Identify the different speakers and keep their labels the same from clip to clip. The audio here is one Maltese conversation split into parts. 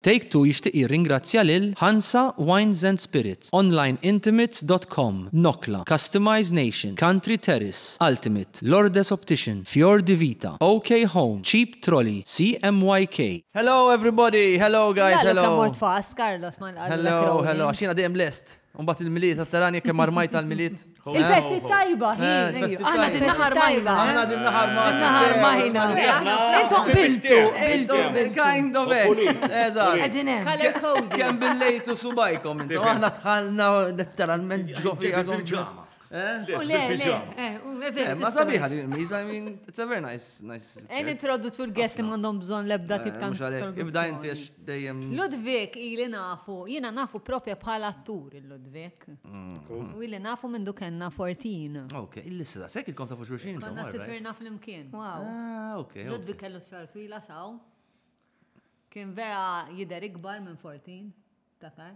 Speaker 1: Take Two jixtieq jirringrazzja lil Hansa Wines and Spirits, Onlineintimates dot com, Nokla, Customize Nation, Country Terrace, Ultimate, Lourdes Optician, Fior di Vita, OK Home, Cheap Trolley, CMYK, Hello everybody! Hello guys! Hello! Illa lu kemm mort fast, Carlos, ma nqalulek
Speaker 2: Rowley. Hello, hello, għax jiena
Speaker 1: dejjem lest. U mbagħad il-Milied, tara kemm armajt għall-Milied. Il-festi tajba,
Speaker 2: hi. Aħna din
Speaker 3: naħar majna. Aħna din naħar majna.
Speaker 1: Din naħar majna.
Speaker 3: Intom biltu. Biltu. Kind
Speaker 1: of it. Eżat. Għedin hemm.
Speaker 3: Kem
Speaker 2: billejtu
Speaker 1: subajkom. Intom aħna tħalna letteralment ġo fija. Ma sabiħa din il-miza, I mean, it's a very nice, nice. Għen introduċu
Speaker 2: l-guest li mandom bżon lebda tip tal. Ibda inti
Speaker 1: dejjem. Ludwig ili
Speaker 2: nafu, jiena nafu propja bħala attur il-Ludwig. U ili nafu mindu kenna fortin. Ok, il-lissa da, sekk
Speaker 1: il-kom tafu xurxin. Konna sifirna fl-imkien.
Speaker 2: Wow. Ah, ok.
Speaker 3: Ludwig kellu
Speaker 1: xar twila
Speaker 2: saw. Kien vera jider ikbar minn fortin, takar.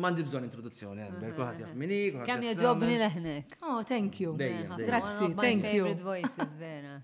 Speaker 1: Mandi bżon introduzzjoni, għember, kuħat jaf minni. Kam joġobni
Speaker 2: leħnek. Oh, thank you.
Speaker 3: Grazzi,
Speaker 1: thank you.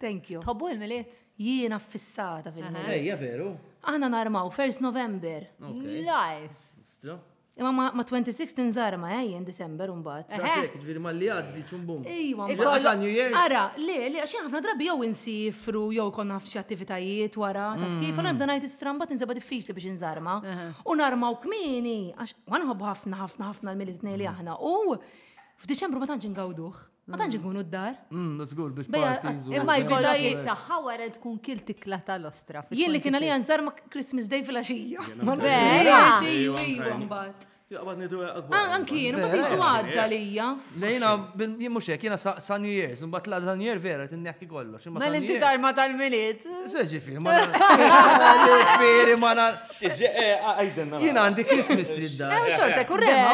Speaker 2: Thank you. Tħobbu il-miliet? Jiena fissata
Speaker 3: fil-miliet. Ejja, veru.
Speaker 1: Aħna narmaw, 1st
Speaker 3: November. Nice.
Speaker 2: Stru.
Speaker 1: Imma ma 26
Speaker 3: tinżarma, eh, jien December unbat. Sasek, eh. ġviri ma li
Speaker 1: għaddi ċumbum. Ejwa, ma New Year's.
Speaker 3: Ara,
Speaker 1: li, li, għaxin
Speaker 3: ħafna drabi jow insifru, jow konna f'xi attivitajiet wara, taf mm. kif, għana nibda najt stramba tinseba diffiċli biex inżarma. Eh. U narmaw kmini, għax ma nħobbu ħafna ħafna ħafna l-Milli Tnej li aħna. U f'Diċembru ma tantx ingawduh. Ma tantx nkunu d-dar. Mm, żgur biex Bejja,
Speaker 1: parties u- imma jkollok- Kolla
Speaker 3: Kolla
Speaker 1: jisaxħa
Speaker 2: wara tkun kil tikla tal-ostra. fi Jien li kien għalija 25. nżar
Speaker 3: ma' Christmas Day fil-axija. Ma Vera? nafx,
Speaker 2: Ejwa, ejwa, ejwa, ejwa.
Speaker 3: mbagħad. Jaqbad nidu għakbar.
Speaker 4: An- Anki jien, ma Vera?
Speaker 3: tisu għadda lija. Lejna,
Speaker 1: jien mux hekk, jiena sa, sa New Year's, un bat la New Year vera, tinneħki kollu. Mel inti darma
Speaker 2: tal-miliet. Se ġifiri, ma
Speaker 1: ġifiri, ma nar.
Speaker 4: Jina għandi Christmas
Speaker 1: tree d-dar. Ewa xorta, kurrema,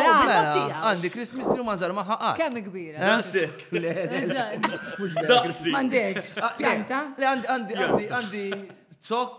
Speaker 3: għandi
Speaker 1: Christmas tree ma zar maħħa għad. Kemm kbira.
Speaker 2: Nasik.
Speaker 4: Daqsi. Mandekx. Pjanta?
Speaker 3: Għandi, għandi,
Speaker 1: għandi, zok.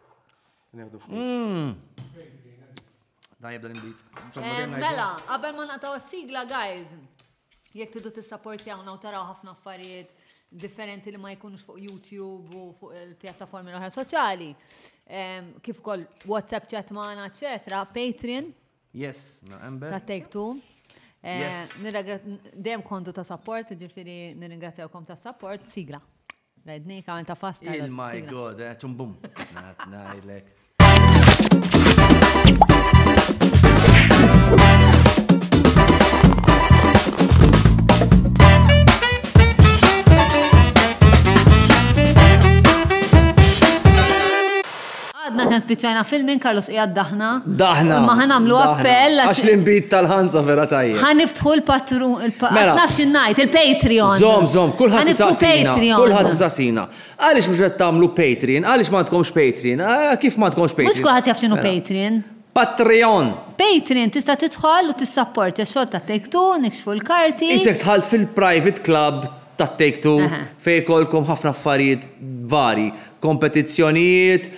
Speaker 1: Hmm. Dajab dan il-bit. Mela,
Speaker 2: qabel ma naqtaw s-sigla, guys, jekk tidu tissaportjawna u taraw ħafna affarijiet differenti li ma jkunux fuq YouTube u fuq il-pjattaformi l-oħra soċjali, kif kol WhatsApp chat maħna, etc. Patreon, Yes, no,
Speaker 1: Amber. Ta' Take Two.
Speaker 2: Eh, yes. Dejjem kontu ta' support, ġifiri nirringrazzjawkom ta' support, sigla. Rajdni, kamen ta' fasta. Il my god, eh,
Speaker 1: ċumbum. Nat najdlek.
Speaker 2: Għadna kemm spiċċajna fil minn Carlos qiegħed daħna. Daħna. Imma ħa nagħmlu
Speaker 1: appell
Speaker 2: għax. Għax l-inbid tal-ħansa
Speaker 1: vera tajjeb. Ħa niftħu l-patru
Speaker 2: il-pa. Mela. Nafx innajt il-Patreon. Zom, zom, kulħadd
Speaker 1: isaqsina. Kulħadd isaqsina. Għaliex mhux qed tagħmlu Patreon? Għaliex ma tkomx Patreon? Ah, kif ma tkomx Patreon? Mhux kulħadd jaf x'inhu mela. Patreon.
Speaker 2: Patreon.
Speaker 1: Patreon tista'
Speaker 2: tidħol u tissapport
Speaker 1: ix-xogħol
Speaker 2: ta' Take Two,
Speaker 1: nikxfu
Speaker 2: l-karti. Isek
Speaker 1: tħalt
Speaker 2: fil-private
Speaker 1: club
Speaker 2: ta'
Speaker 1: Take Two fejn ikollkom ħafna affarijiet varji, kompetizzjonijiet,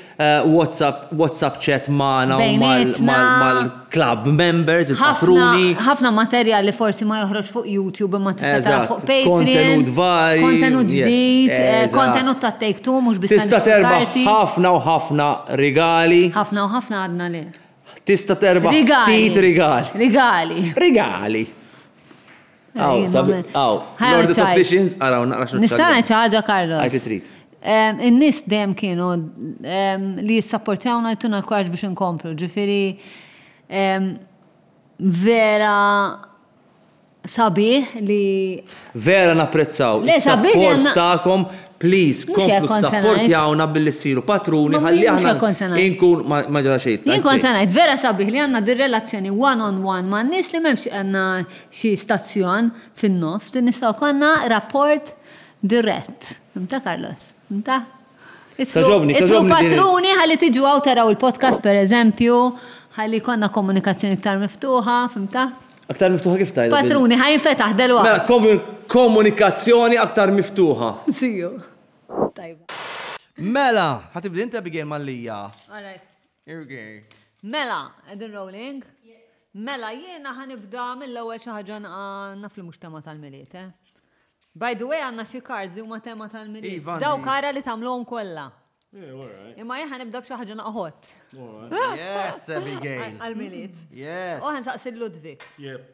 Speaker 1: WhatsApp, WhatsApp chat magħna u mal-club members, il-patruni. Ħafna, ħafna materjal
Speaker 2: li forsi ma joħroġx fuq YouTube imma tista' taraħ fuq Patreon. Kontenut varji.
Speaker 1: Kontenut ġdid,
Speaker 2: kontenut ta' Take Two mhux biss. Tista' terbaħ
Speaker 1: ħafna u ħafna rigali. Ħafna u ħafna
Speaker 2: għadna le. Tista' terbaħ
Speaker 1: ftit rigali. Rigali. Rigali. Aw, sabi, aw, Lord of Opticians, araw, naqra xnuċċa. Nistana ċaġa, Carlos.
Speaker 2: Għajti trit.
Speaker 1: In-nis
Speaker 2: dem kienu li jissapportjawna jtuna l-kuraġ biex nkomplu, ġifiri vera sabiħ li. Vera napprezzaw. Le
Speaker 1: sabiħ. Takom, please, komplu support jawna billi siru patruni għalli għahna. Inkun maġra xejt. Inkun sanajt, vera
Speaker 2: sabiħ li għanna dir relazzjoni one on one ma' nis li memx għanna xi stazzjon fin-nofs li nistgħu jkollna rapport dirett. Fhimtha Carlos? Fhimtha? Togħġobni, togħġobni. Idħlu patruni ħalli tiġu hawn taraw il-podcast pereżempju, ħalli jkollna komunikazzjoni iktar miftuħa, fhimtha? Aktar miftuħa kif
Speaker 1: tgħidha? Patruni, ħa jinfetaħ
Speaker 2: delwaqt. Mela,
Speaker 1: komunikazzjoni aktar miftuħa. Siju.
Speaker 2: Tajba. Mela,
Speaker 1: ħa tibda int Abigail Mallia. All right.
Speaker 2: Irgej.
Speaker 1: Mela,
Speaker 2: edin rolling? Mela, jiena ħanibda mill-ewwel xi ħaġa naf li mhux tema tal-miliet, eh? By the way, għandna xi cards li huma tema tal-miliet. Iva, Daw kara li tagħmluhom kollha. Eh, Imma jien ħanibda b'xi ħaġa naqħod.
Speaker 1: Yes, Abigail. Għal-miliet. Yes.
Speaker 2: U ħansaqsi
Speaker 1: Ludwig.
Speaker 2: Yep.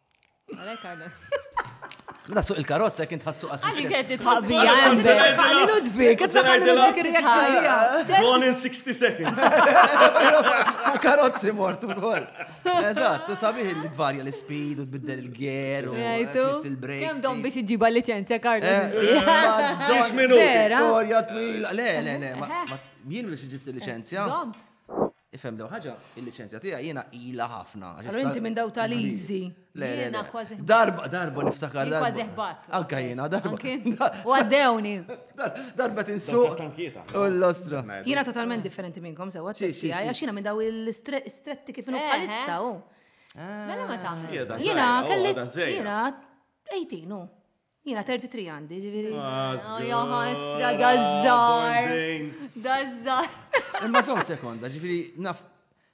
Speaker 2: Għalek għadas. Mela
Speaker 1: suq il-karozza kien tħassu għal. Għalli kħetti tħabija.
Speaker 2: Għalli Ludwig, għet saħħan Ludwig reaksħabija. Gone in 60
Speaker 4: seconds.
Speaker 1: U karozzi mortu kol. Eżat, tu sabiħ li tvarja l-speed u tbiddel il-ger u il-break. Kem dom biex iġiba
Speaker 2: licenzja karna. Eh, Ġiġ
Speaker 4: minu. Storja twila.
Speaker 1: Le, le, le. Jien biex iġibt il-licenzja.
Speaker 2: Ifhem daw ħaġa,
Speaker 1: il-liċenzja tiegħi jiena ilha ħafna. Allura inti minn daw
Speaker 3: tal-easy. Jiena kważi.
Speaker 2: Darba, darba niftakar.
Speaker 1: Kważi ħbat. Anka
Speaker 2: jiena, darba.
Speaker 1: U għaddewni.
Speaker 2: Darba
Speaker 1: tinsu. U l-ostra. Jiena totalment
Speaker 3: differenti minnkom sewa t-testi għaj, għax jiena minn daw il-stretti kif nukka eh, issa eh. u. Mela
Speaker 2: ma tagħmel. Jiena kelli.
Speaker 3: Jiena 18 u. Jina 33 għandi, ġiviri. Jaħas,
Speaker 2: dazzar. Dazzar. Imma son
Speaker 1: sekonda, ġiviri, naf,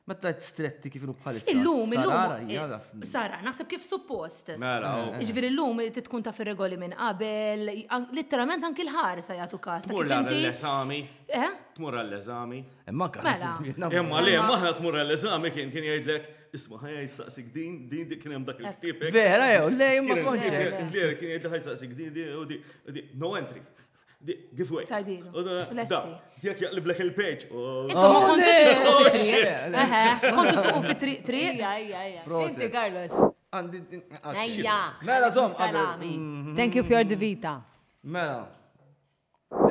Speaker 1: ma ta' stretti kif bħalissa. Illum, illum.
Speaker 3: Sara, naħseb kif suppost. Mela, eh, eh. Ġiviri, illum, ti tkun ta' fil-regoli minn qabel, literalment anki l-ħar sa jgħatu kas. Tmur għall-eżami.
Speaker 4: Eh? Tmur għall-eżami. Imma kħan. Mela.
Speaker 1: Imma li, maħna
Speaker 4: tmur għall-eżami kien kien jgħidlek. Isma, ħajja jistaqsik din, din di kienem dak il-ktib. Vera, jew, le,
Speaker 1: ma konċi. Vera, kien jgħid
Speaker 4: ħajstaqsik din, din, u di, no entry. Give way. Tajdilu.
Speaker 3: Jek
Speaker 4: jaqliblek il-page. Intu ma kontu
Speaker 3: suqu Kontu suqu fi triq triq. Ija,
Speaker 2: ija, ija. Inti, Carlos. Ija. Mela, zom.
Speaker 1: Mm-hmm. Thank you
Speaker 2: for the vita. Mela.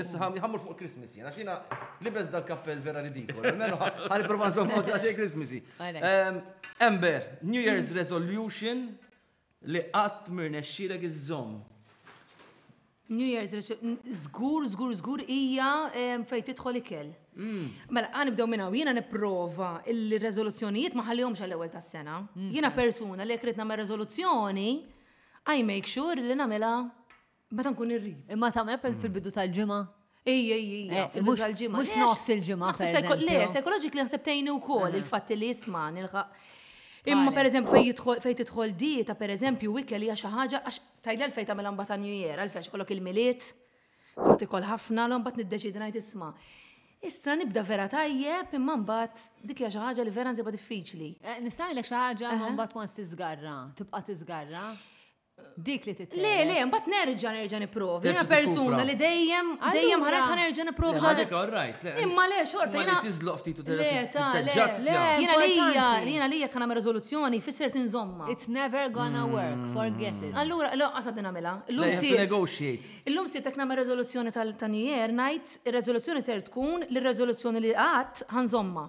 Speaker 1: Issa ħam jħammur fuq Christmas jena, xina libes dal-kappell vera ridikol, menu ħan iprofa nżommu ta' xej Christmasy. Ehm, Ember, New Year's Resolution li qatt mirnexxilek iżżomm.
Speaker 3: New Year's Resolution, zgur, zgur, zgur, ija ehm, fej tidħol ikel. Mm. Mela, għan ibdew minna, jina niprofa il-rezoluzzjonijiet maħallihomx għall-ewel tas sena mm. Jina persuna li jekk rid nagħmel rezoluzzjoni, I make sure li nagħmilha Meta nkun irrid. Imma tagħmel per mm. fil-bidu
Speaker 2: tal-ġimgħa. Ej, ej, ej, eh,
Speaker 3: fil-bidu tal-ġimgħa. Mhux nofs il-ġimgħa.
Speaker 2: Le, psychologically
Speaker 3: naħseb tgħinu wkoll il-fatt li jisma' nilħaq Imma per eżempju fej jidħol fej tidħol dieta per eżempju wikel hija xi ħaġa għax tajla l fej tagħmel ambata New Year għal fex kollok il-miliet, kont ikol ħafna l mbagħad niddeċidi ngħid isma'. Istra nibda vera tajjeb imma mbagħad dik hija xi ħaġa li vera nsibha diffiċli. Eh, Nistgħilek xi ħaġa
Speaker 2: mbagħad once tiżgarra, tibqa' tiżgarra. Dik li titgħid. Le, le, mbagħad nerġa'
Speaker 3: nerġa' nipprova. Jiena persuna li dejjem dejjem ħanet ħa nerġa' nipprova. Ħaġek all right, le.
Speaker 1: Imma le xorta
Speaker 3: jiena. Tiżloq ftit u
Speaker 1: tiġġastja.
Speaker 3: Jiena lija, jiena lija kan nagħmel riżoluzzjoni fisser tinżomma. It's never gonna
Speaker 2: mm. work, forget it. Allura, le, qasa din nagħmilha.
Speaker 3: Illum sirt. Negotiate. Illum sirt qed nagħmel riżoluzzjoni tal-tanjer ngħid ir-riżoluzzjoni ser tkun li r-riżoluzzjoni li qatt ħanżomma.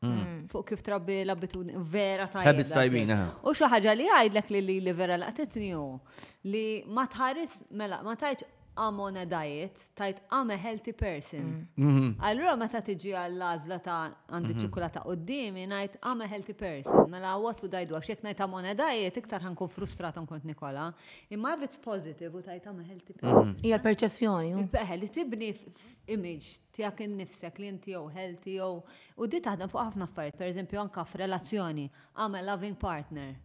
Speaker 2: Mm. Fuq kif trabbi l-abitudni vera tajba. Habits tajbin, U
Speaker 1: xi ħaġa li
Speaker 2: għajdlek li li li vera laqtitni hu li ma tħares mela ma tajtx I'm on a diet, tajt I'm a healthy person. Mm. Mm-hmm. Allura meta tiġi għall-għażla ta' għandi mm-hmm. ċikulata qudiemi ngħid I'm a healthy person. Mela what would I do? Għax jekk ngħid I'm on a diet iktar ħankun frustrat nkont Nikola. Imma if it's positive u tajt I'm a healthy mm-hmm. person. Hija l-perċessjoni.
Speaker 3: Peħe li tibni
Speaker 2: image tiegħek innifsek li inti jew healthy jew, u di taħdem fuq ħafna affarijiet, pereżempju anke f'relazzjoni, I'm a loving partner.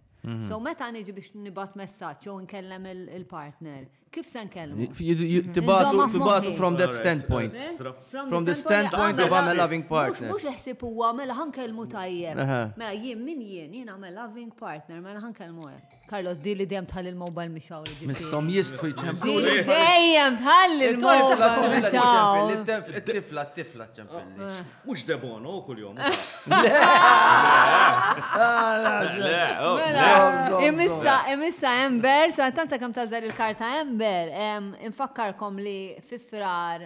Speaker 2: So meta niġi biex nibgħat messaġġ jew inkellem il-partner, kif se nkellmu? Tibgħatu,
Speaker 1: tibgħatu from that standpoint. From the standpoint of I'm a loving partner. Mhux iħsib huwa mela
Speaker 2: ħa nkellmu tajjeb. Mela jien min jien, jien I'm a loving partner, mela ħa nkellmu hekk. Carlos, di li dejjem tħall il-mobile mhix hawn. Missom jistħu
Speaker 1: jċemplu. Di li dejjem
Speaker 2: tħall il-mobile mhix hawn. It-tifla, t-tifla
Speaker 1: ċempilli. Eh. Mhux debono
Speaker 4: kuljom.
Speaker 2: Imissa, imissa Ember, sa tanza kemm tażel il-karta Ember, infakkarkom li fi frar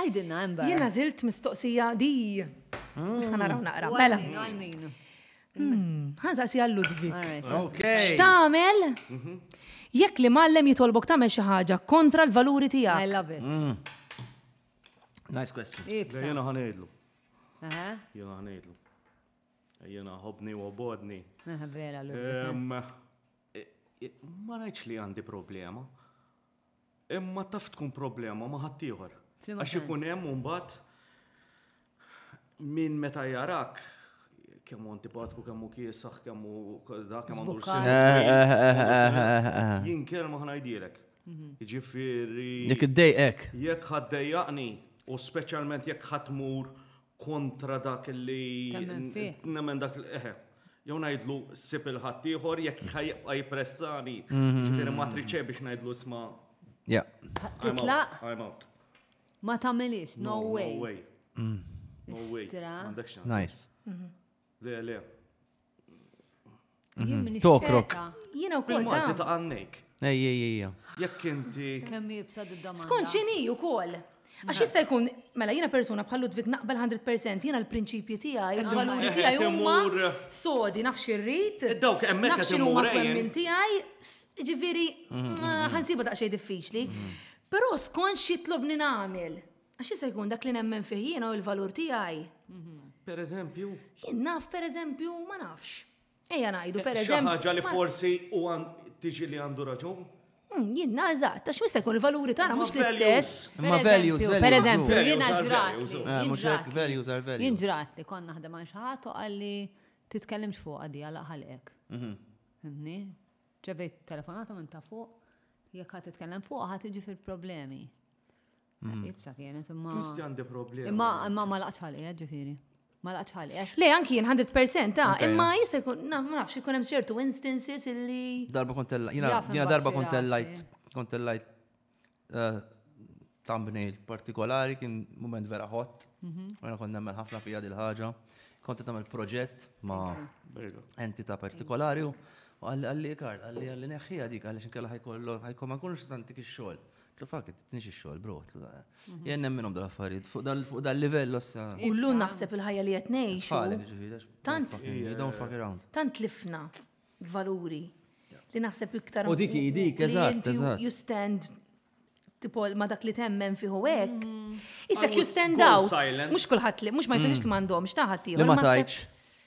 Speaker 2: Għidilna hemm barra. Jien għażilt mistoqsija
Speaker 3: di. Nista' naraw naqra. Mela. Għal min?
Speaker 2: Hmm,
Speaker 3: Ħansaqsi għal Ludwig. X'tagħmel?
Speaker 1: Mhm.
Speaker 3: Jekk li mallem jitolbok tagħmel xi ħaġa kontra l-valuri tiegħek. I love it.
Speaker 2: Mm.
Speaker 1: Nice question. Jena ħanejdlu.
Speaker 4: Jena ħanejdlu. Jena ħobni u bodni. Vera, l Ma rajċ li għandi problema. Imma taf tkun problema ma' ħaddieħor. Għax ikun hemm mbagħad min meta jarak kemm hu antipatku, kemm hu kiesaħ, kemm hu dak kemm għandu Jien kelma ħnajdilek. Mhm. Jiġifieri. Jekk iddejqek.
Speaker 1: Jekk ħaddejjaqni,
Speaker 4: u speċjalment jekk ħadd mur kontra dak li. Nemmen fih. Nemmen dak li. Eħe. Jew ngħidlu sib il-ħadd ieħor jekk jibqa' jippressani. Mhm. Ġifieri ma triċe biex ngħidlu sma. Ja.
Speaker 2: Titlaq. I'm out.
Speaker 4: Ma
Speaker 2: tagħmilix, no way. No way. Mm.
Speaker 4: No way. Nice.
Speaker 1: Mhm. Le,
Speaker 4: le.
Speaker 1: Mhm. Tokrok. Jina u kol
Speaker 3: ta' ta' għannek.
Speaker 4: Ej, ej, ej.
Speaker 1: Jekk inti.
Speaker 4: Kemm jibsa d-damma.
Speaker 2: Skont xini u kol.
Speaker 3: Għax jista' jkun, mela jina persuna bħal Ludwig naqbel 100% jina l-prinċipji tiegħi, il-valuri tiegħi huma sodi naf xirrid. Eh, dawk hemmhekk naf x'inhu ma twemmin tiegħi, ġifieri mhm, mhm, mhm. ħansiba daqsxejn diffiċli. Però skont xitlobni nagħmel. Għax jista' jkun dak li nemmen fih jiena u l-valur tiegħi. Mhm. Per
Speaker 4: eżempju? Jien naf per
Speaker 3: eżempju ma nafx. Ejja ngħidu eh, per eżempju. Ħaġa li
Speaker 4: forsi u tiġi li għandu raġun? Hmm, jien nażat,
Speaker 3: ta' x'mista jkun il-valuri tagħna mhux l-istess. Ma values,
Speaker 1: per eżempju, jiena
Speaker 2: ġrat.
Speaker 4: Eh,
Speaker 2: mhux
Speaker 4: hekk
Speaker 2: values
Speaker 4: are
Speaker 1: values. Jien ġrat li konna naħdem
Speaker 2: għal xi ħadd u qalli titkellimx fuq għadi għal ħalqek. Mhm. Fimni? Ġevejt telefonata minn ta' fuq, jekk ħadd titkellem fuq ħadd tiġi fil-problemi. Mm. Ibsa kienet imma. Misti għandi problema. Imma
Speaker 4: imma ma laqx
Speaker 2: ħalqi, eh, ġifieri. Ma laqx ħalqi. Eh. Le anki jien 100% ta'
Speaker 3: ah, imma jista' jkun ma nafx ikun hemm ċertu instances illi. Darba kont jiena
Speaker 1: darba kont
Speaker 2: lajt kont lajt
Speaker 1: eh, thumbnail partikolari kien moment vera hot. Mhm. Għana kont nemmen ħafna fija dil-ħaġa. Kont nagħmel proġett ma' entità partikolari u għalli għalli ikar, għalli għalli neħħija dik għalli xinkella ħajkollu ħajkollu ma jkunux tantik ix-xogħol. Fuck it, tnix ix-xogħol, bro. Jien nemminhom dal-affarijiet fuq dal-livell ossa. U l-lum naħseb il-ħajja
Speaker 3: li qed ngħixu. Tant.
Speaker 1: Don't
Speaker 3: fuck around.
Speaker 1: Tant tlifna
Speaker 3: valuri li naħseb iktar. U dik dik, eżatt,
Speaker 1: eżatt. You stand
Speaker 3: tipo ma dak li temmen fiħu hekk. Mm. Isek you stand
Speaker 4: out. Mhux kulħadd
Speaker 3: li mhux
Speaker 4: ma jfisix
Speaker 3: li mm. m'għandhomx taħat Li ma tajtx.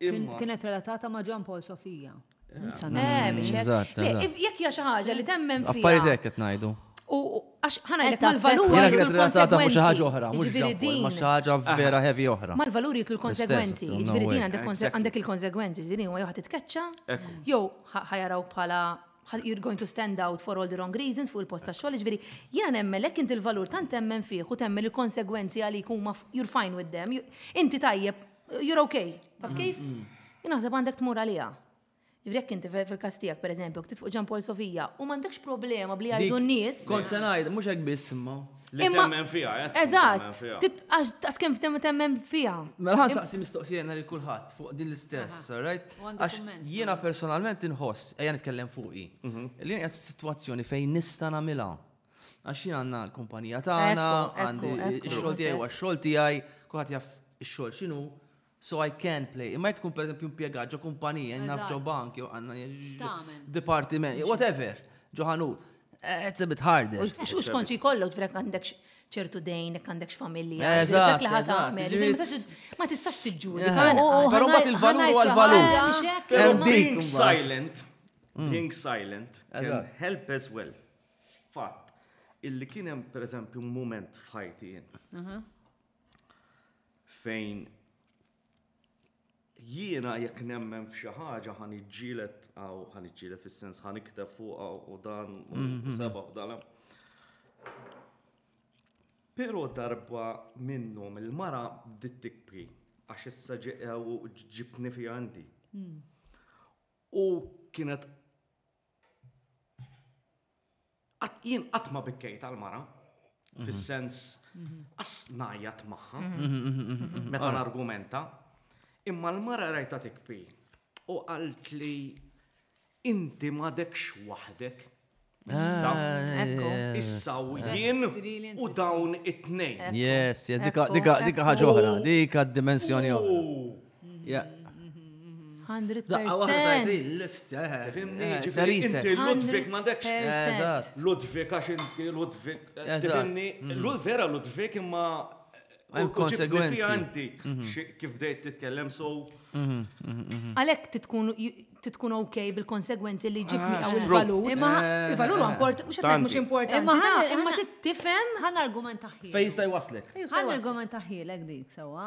Speaker 2: Imma.
Speaker 4: Kienet relatata ma'
Speaker 2: John Paul Sofija.
Speaker 3: Jekk
Speaker 1: hija xi ħaġa
Speaker 3: li
Speaker 1: temmen
Speaker 3: fija. Affarijiet hekk qed ngħidu.
Speaker 1: U għax
Speaker 3: ħana jgħid mal-valuri. Jgħid
Speaker 2: relatata
Speaker 3: ma'
Speaker 1: xi ħaġa
Speaker 3: oħra,
Speaker 1: mhux din.
Speaker 3: Ma' xi
Speaker 1: ħaġa vera heavy oħra. Mal-valuri jgħid l-konsekwenzi.
Speaker 3: Jiġifieri din
Speaker 1: għandek
Speaker 3: il-konsekwenzi, din huwa jew ħadd titketċa, jew ħajaraw bħala you're going to stand out for all the wrong reasons fuq il-post ta' xogħol, ġifieri jiena nemmen lek inti l-valur tant temmen fih u temmen il-konsegwenzi għalik huma you're fine with them. Inti tajjeb you're okay, taf kif? Mm, mm. Jinaħseb għandek tmur għalija. Jvrek inti fil-kastijak, per eżempju, ktit fuq ġampol Sofija, u mandekx problema bli għajdu n-nis. Kont senajt, mux għek
Speaker 1: biss imma. Imma temmen fija,
Speaker 4: eh? Eżat,
Speaker 3: għax tas kem temmen fija. Mela ħan saqsi
Speaker 1: mistoqsijena li kullħat fuq din l-istess, right? Għax jiena
Speaker 2: personalment
Speaker 1: inħoss, ejja nitkellem fuqi, mhm. li għed f-situazzjoni fejn nista namila. Għax jien għandna l-kumpanija tagħna, għandi x-xogħol tiegħi u x-xogħol tiegħi, kulħadd jaf ix-xogħol x'inhu, so I can play. Imma jekk tkun pereżempju impjegat ġo kumpanija, naf ġo bank, jew għandna dipartiment, whatever, ġo ħanut. Eh, it's a bit harder. Xux konċi kollok
Speaker 3: tvrek għandek ċertu dejn, jek għandek familja. Dak li ħat għamel. Ma tistax
Speaker 1: tiġġuri.
Speaker 3: Pero bat
Speaker 1: il-valur għal valur. Being silent, mm. being
Speaker 4: silent, can help as well. Fatt, illi kien hemm pereżempju mument f'ħajti jien. Fejn jiena jekk nemmen f'xi ħaġa ħan iġġielet aw ħan iġġielet fis-sens ħan ikteb fuq u dan u mhm. seba' u dan. Però darba minnhom il-mara bdiet tikbri għax issa ġeqew ġibni fi għandi. Hmm. U kienet Jien qatt ma bikkejt għal mara, mhm. fis-sens mhm. qas najjat magħha mhm, meta nargumenta, imma l-mara rajta tikpi u qalt li inti m'għadekx waħdek. Issa, ah, issa u jien u dawn it-tnejn. Yes, yes,
Speaker 1: dika ħaġa oħra, dika dimensjoni oħra.
Speaker 3: Daqqa waħda
Speaker 1: din l-istja. Inti
Speaker 4: Ludwig ma dekx.
Speaker 1: Ludwig għax inti
Speaker 4: Ludwig. Tifimni,
Speaker 1: vera
Speaker 4: Ludwig imma. Hemm
Speaker 1: konsegwenzi. Inti
Speaker 4: kif bdejt titkellem so.
Speaker 3: Għalhekk titkun ok bil-konsegwenzi li ġib miegħu il-valur. Imma il-valur import, mhux qed mhux importanti. Imma imma tifhem. Ħan argument taħħi.
Speaker 2: Fejn jista' jwaslek.
Speaker 1: Ħan argument
Speaker 2: taħħilek dik sewwa.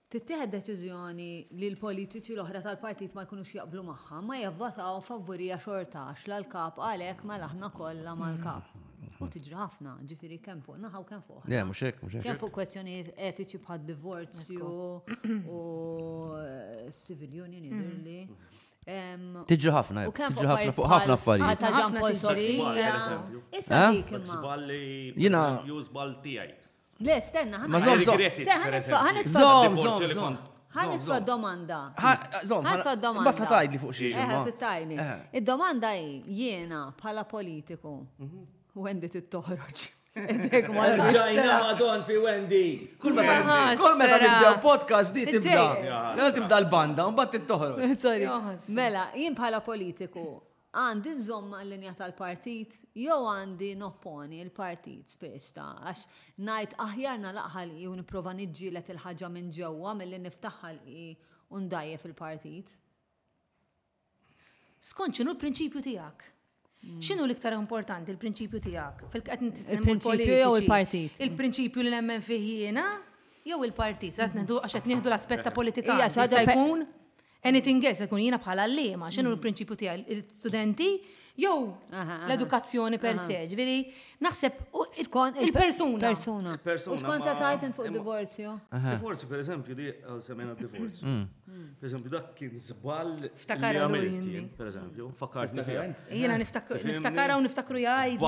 Speaker 2: tittieħed deċiżjoni li l-politiċi l-oħra tal-partit ma jkunux jaqblu magħha, ma jivvotaw favurija xorta għax la l-Kap qal hekk mela aħna kollha mal-Kap. U tiġri ħafna, ġifieri kemm fuq naħa u kemm fuq oħra. Le, mhux hekk, mhux hekk. Kemm fuq
Speaker 1: kwestjonijiet
Speaker 2: etiċi bħad-divorzju u civil union jidhirli.
Speaker 1: Tiġri ħafna, U kemm tiġri ħafna fuq ħafna affarijiet. Għal ta' Ġan Paul Ħafna tiġri. Soria.
Speaker 2: Issa Eh? dik Dak imma. żball li Jiena-
Speaker 4: ju
Speaker 1: żball tiegħi.
Speaker 4: Le, stenna, ħana.
Speaker 2: Ma zom, zom.
Speaker 1: Zom, zom, zom.
Speaker 2: Ħana tfa domanda. Zom, ħana
Speaker 1: tfa domanda. Batta
Speaker 2: tajd li fuq xiex.
Speaker 1: Eħe, t-tajni.
Speaker 2: Id-domanda hi, jiena bħala politiku, mhm. Wendy t-toħroġ. Dek ma
Speaker 1: Ġajna madon fi Wendy. Kull meta kull meta nibdew podcast di tibda. Tibda l-banda, mbagħad tittoħroġ. Mela,
Speaker 2: jien bħala politiku, Għandi nżomm mal-linja tal-partit jew għandi nopponi l-partit spiss ta' għax ngħid aħjar nagħlaq ħalqi u nipprova niġġieled il-ħaġa minn ġewwa milli niftaħ ħalqi u ndgħajjef il-partit?
Speaker 3: Skont x'inhu l-prinċipju tiegħek? X'inhu l-iktar importanti l-prinċipju tiegħek? Fil-qed nitkellmu l-prinċipju
Speaker 2: jew il-partit? Il-prinċipju li nemmen
Speaker 3: fih jiena jew il-partit? Għax qed nieħdu l-aspett ta' politika. Hija xi ħaġa jkun Anything else, ikun jiena bħala l-lima, xinu mm. l-prinċipju tiegħi, il-studenti, jew l-edukazzjoni per se, ġviri, naħseb il-persuna. Persuna. U
Speaker 2: xkont sa tajt fuq divorzju? Divorzju, per eżempju,
Speaker 4: di għal semena divorzju. Mm. Mm. Per eżempju, dak kien zbal. Ftakar għamilti,
Speaker 3: per eżempju, fakkar.
Speaker 4: Jiena
Speaker 3: niftakar u niftakru jgħid.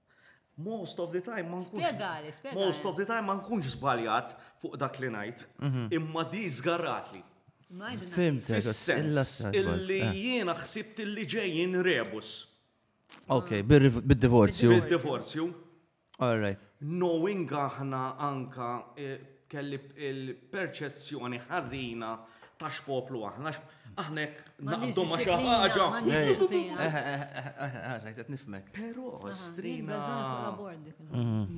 Speaker 4: Most of the time ma nkunx. Spjegali, spjegali. Most of the
Speaker 2: time ma
Speaker 4: nkunx żbaljat fuq dak li ngħid, mhm. imma di żgarratli. Fimt,
Speaker 1: illi
Speaker 4: eh. jiena ħsibt illi ġejjin rebus. Ok,
Speaker 1: bid-divorzju. Bid-divorzju.
Speaker 4: All right.
Speaker 1: Knowing aħna
Speaker 4: anka eh, Kelli l-perċezzjoni ħażina ta' x'poplu aħna, aħna jekk naqbdu ma' xi ħaġa.
Speaker 1: Rajt qed nifmek. Però strina.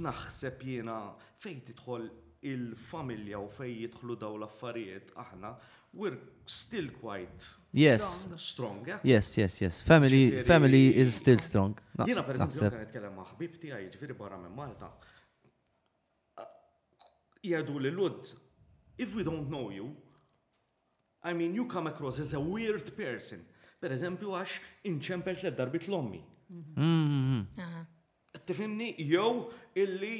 Speaker 4: Naħseb jiena fejn tidħol il-familja u fejn jidħlu dawn l-affarijiet aħna, we're still quite Yes. Strong, eh? Yes, yes, yes.
Speaker 1: Family, family is still strong. Jiena per eżempju,
Speaker 4: nitkellem ma' ħbib tiegħi, ġifieri barra minn Malta, jgħidu lil Lhud, If we don't know you, I mean you come across as a weird person. Per eżempju għax inċempel tliet darbit l-ommi. Tifimni, jew illi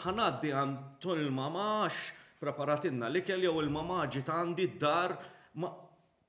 Speaker 4: ħanaddi għand il-mamax preparatinna li kell jew il-mamaġi ta' għandi d-dar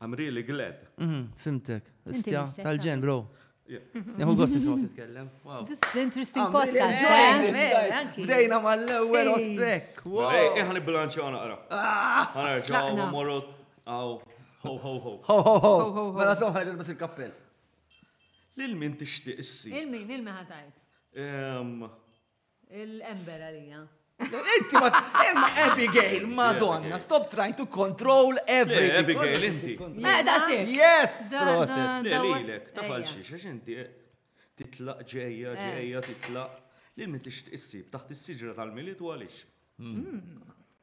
Speaker 4: I'm really glad. Fimtek.
Speaker 1: Istja tal-ġen, bro. Neħu gost nisma titkellem. This is
Speaker 2: interesting podcast. Eh? Bdejna
Speaker 1: mal-ewwel ostrek. Eħan il-bilanċi
Speaker 4: għana għara. Għana ġaw, morru, għaw, ho, ho, ho. Ho, ho,
Speaker 1: ho. Mela so ħarġet bas il-kappell.
Speaker 4: Lil min tixtieq issi. Lil min, lil min ħatajt.
Speaker 2: Il-ember għalija. Inti ma
Speaker 1: imma Abigail, madonna, stop trying to control everything. Abigail, inti.
Speaker 4: Meda si.
Speaker 3: Yes, proset.
Speaker 1: Lilek, ta' falxi,
Speaker 4: xax inti eh, titlaq ġeja, eh. ġeja, titlaq. Lil min tixtieq issib taħt is-siġra tal-miliet u għaliex. Hmm. Hmm.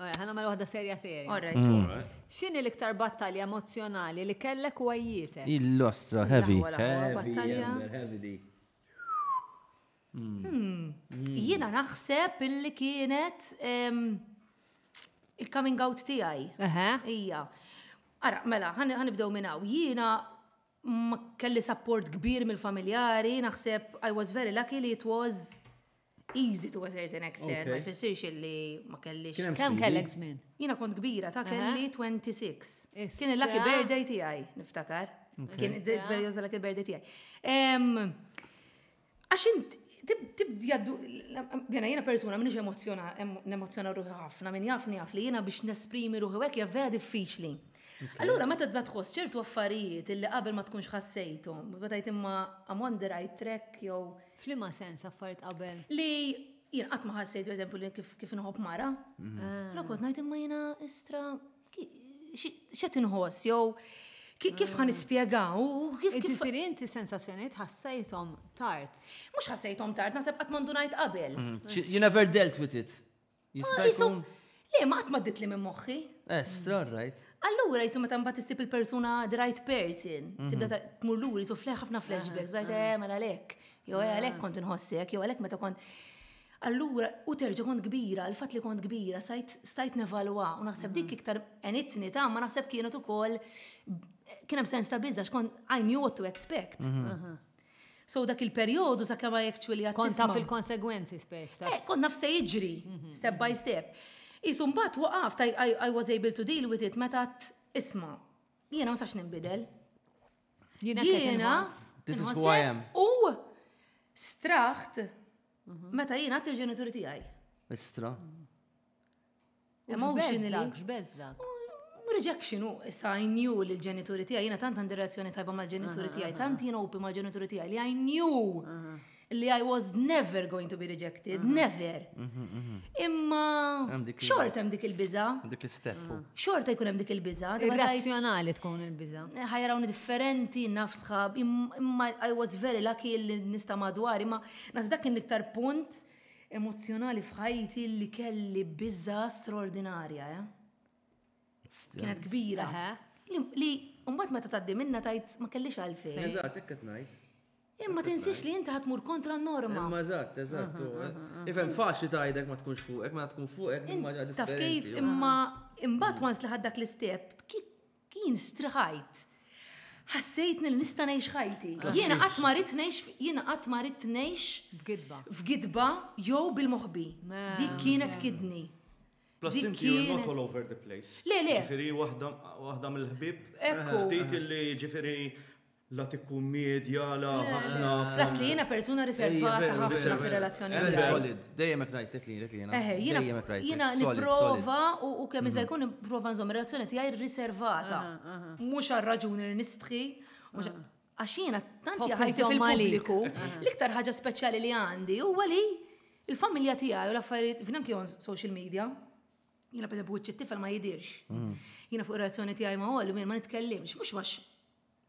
Speaker 2: Ora, ħana mela waħda serja serja. Ora, xini l-iktar battalja emozjonali li kellek u għajjietek? Il-lostra, heavy.
Speaker 1: Battalja. Hmm. Hmm.
Speaker 3: Jina naħseb illi kienet il-coming out tijaj. Ija. Ara, mela, ħanibdew minnaw. Jina ma kelli support kbir mill-familjari, naħseb I was very lucky li it was easy to a certain extent, ma jfissirx illi ma kellix. Kemm kellek żmien?
Speaker 2: Jiena kont kbira
Speaker 3: ta' kelli 26. Kien
Speaker 2: il-lucky
Speaker 3: birthday tiegħi, niftakar. Kien il-perjodu tal-lucky birthday tiegħi. Għax int tibdjaddu, jena jena persuna minix emozjona, emozjona ruħi ħafna, minn jafni jaf li jena biex nesprimi ruħi għek vera diffiċli. Allura, meta tba tħoss ċertu affarijiet illi qabel ma tkunx ħassejtu, bħatajt imma I'm on the right track, jew F'liema sens
Speaker 2: affarijiet qabel? Li jien
Speaker 3: qatt ma ħassejt eżempju li kif inħobb mara. Però kont ngħid imma jiena istra x'qed inħoss jew kif ħan ispjegaw u kif kif. Ġifieri inti
Speaker 2: sensazzjonijiet ħassejthom tard. Mhux ħassejthom
Speaker 3: tard, naħseb qatt ma ndunajt qabel. You never dealt
Speaker 1: with it. Jista' jkun. Le, ma qatt ma ditli
Speaker 3: minn moħħi. Eh, strong, right?
Speaker 1: Allura jisu meta mbagħad
Speaker 3: issib il-persuna the right person, mhm. tibda tmur lur jisu fleħ ħafna flashbacks, bħed eh mela lek, jew eh lek kont inħossek, jew lek meta kont. Allura, u terġa kont kbira, l-fat li kont kbira, stajt nevalwa, u naħseb mhm. dik iktar enitni ta' ma naħseb kienet ukoll kien hemm sens ta' biża x'kont I knew what to expect. Mhm. So dak il-perjodu sa' kemm actually għad Kont taf il-konsegwenzi
Speaker 2: speċ ta'. Eh, kont naf se jiġri,
Speaker 3: mhm, step mhm. by step. Isu mbagħad waqaft I was able to deal with it meta isma' jiena ma sax nimbidel. Jiena This is
Speaker 1: who I am. U
Speaker 3: straħt mhm. meta jiena għat il-ġenituri tiegħi. Istra. Emotionally. X'beżlak?
Speaker 2: Rejection
Speaker 3: u issa I knew li l-ġenituri tiegħi, jiena tant għandi relazzjoni tajba mal-ġenituri tiegħi, tant jien open mal-ġenituri tiegħi li I knew li I was never going to be rejected, never. Imma xort hemm dik il-biża. Dik l-istep.
Speaker 1: Xort jkun hemm dik
Speaker 3: il-biża. Irrazzjonali tkun
Speaker 2: il-biża. Ħajrawni differenti,
Speaker 3: naf sħab, imma I was very lucky li nista' madwar, imma nas dak kien l-iktar punt emozzjonali f'ħajti li kelli biża straordinarja, eh? Kienet kbira. Li mbagħad meta tgħaddi minna tajt ma kellix għalfejn. Eżatt, hekk qed ngħid.
Speaker 1: Imma tinsiex
Speaker 3: li inti ħatmur kontra n-norma. Imma eżatt, eżatt.
Speaker 1: Ifhem faċli tgħidek ma tkunx fuqek, ma tkun fuqek imma ġa Taf kif imma
Speaker 3: imbagħad once li ħaddak l-istep, Kien striħajt. Ħassejtni li nista' ngħix ħajti. Jiena qatt ma rid ngħix jiena qatt ma rid ngħix f'gidba. F'gidba jew bil-moħbi. Dik kienet kidni. Plus inti
Speaker 4: you're not all over the place. Le, le. Ġifieri waħda mill-ħbieb. Ekku. Ftit
Speaker 3: illi ġifieri
Speaker 4: La tikkummedja, la ħafna. Flas li jiena persuna
Speaker 3: riservata ħafna fir-relazzjoni tiegħi. Solid, dejjem hekk rajtek
Speaker 1: li jiena. Dejjem hekk rajtek. Jiena nipprova
Speaker 3: u kemm iżda jkun nipprova nżomm ir-relazzjoni tiegħi riservata. Mhux għal raġuni li nistħi, għax jiena tant jaħajtu fil-pubbliku. L-iktar ħaġa speċjali li għandi huwa li l-familja tiegħi u l-affarijiet f'dan kien social media. Jiena pereżempju wiċċ it-tifel ma jidirx. Jiena fuq ir-relazzjoni tiegħi ma' Oli ma nitkellimx, mhux għax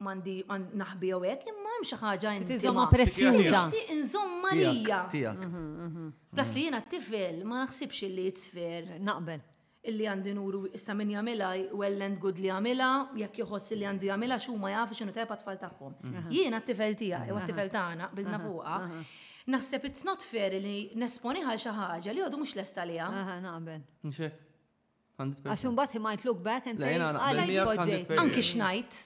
Speaker 3: Mandi naħbi jew hekk, imma hemm xi ħaġa inti. Tiżomma prezzjuża.
Speaker 2: Nixtieq inżomma
Speaker 3: lija. Tiegħek. Mhm,
Speaker 1: mhm. Plas li
Speaker 3: jiena t-tifel ma naħsibx li jitsfer. Naqbel. Illi
Speaker 2: għandi nuru
Speaker 3: issa min jagħmilha well and good li jagħmilha, jekk jħoss li għandu jagħmilha x'huma jafu x'inhu tajba tfal tagħhom. Mhm. Jiena t-tifel tiegħi, jew t-tifel tagħna bilna fuqha. Naħseb it's not fair li nesponiħa xi ħaġa li għadu mhux lesta liha. Naqbel.
Speaker 2: Għax imbagħad he might look back and say għaliex poġġejt. Anki
Speaker 1: x'ngħid.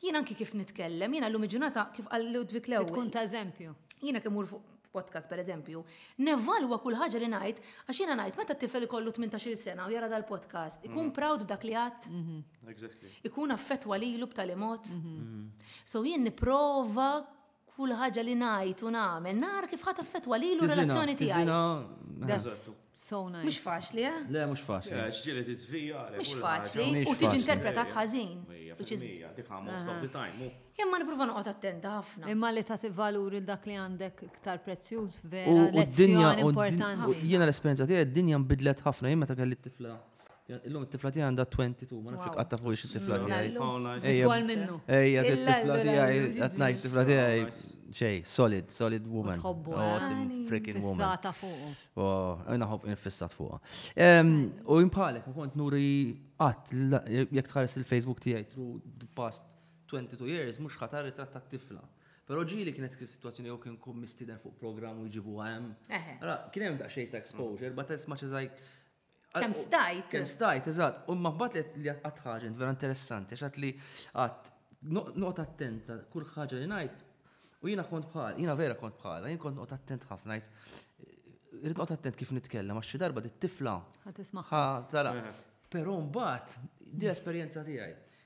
Speaker 3: Jien anki kif nitkellem, jiena llum il-ġurnata kif qal Ludwig l-ewwel. Tkun ta' eżempju.
Speaker 2: Jiena kemm mur fuq
Speaker 3: podcast per eżempju, nevalwa kull ħaġa li ngħid għax jiena ngħid meta t-tifel ikollu 18-il sena u jara dal-podcast, ikun proud b'dak li għadd. Ikun affettwa lilu b'tali mod. So jien nipprova Kull ħaġa li ngħid u nagħmel nara kif ħa taffettwa lilu u relazzjoni tiegħi. Tiżina, tiżina. So nice. Mhux
Speaker 2: faċli, eh? Le,
Speaker 3: mhux faċli. Le,
Speaker 1: ġieli tiżvija.
Speaker 4: Mhux faċli.
Speaker 3: U tiġi interpretat ħażin. Ġieli, dik ha most of the time. Imma nipprova noqgħod attenta ħafna. Imma li tagħti valur
Speaker 2: il dak li għandek iktar prezzjuż vera. U d-dinja importanti. Jiena l-esperjenza tiegħi
Speaker 1: d-dinja nbidlet ħafna jien meta kelli t-tifla. Illum it-tifla tiegħi għandha 22, ma nafx qatta fuq it-tifla tiegħi. Ejja, minnu.
Speaker 2: Ejja, it-tifla
Speaker 1: tiegħi, qed ngħid tifla tiegħi xej, solid, solid woman. Awesome oh, eh? freaking woman. Fissata fuq.
Speaker 2: Oh, għajna ħob
Speaker 1: infissat fuq. U jimpalek, kont nuri qatt jekk tħares il-Facebook tiegħi through the past 22 years, mhux ħatar ritratt tat-tifla. Pero ġili kienet situazzjoni jew kien kum mistiden fuq programm u jġibu għem. Kien hemm daqsxejn ta' exposure, but as much as I Kem
Speaker 3: stajt. Kem stajt, eżat.
Speaker 1: U maħbat li għat ħagġa, vera interessanti, xat li għat noqt attenta kull ħagġa li najt. U jina kont bħal, jina vera kont bħal, jina kont noqt attent ħafna najt. Irrit noqt attent kif nitkellem, għax xi darba dit tifla. Ħa tara. Pero mbagħad di
Speaker 2: l-esperjenza
Speaker 1: tiegħi.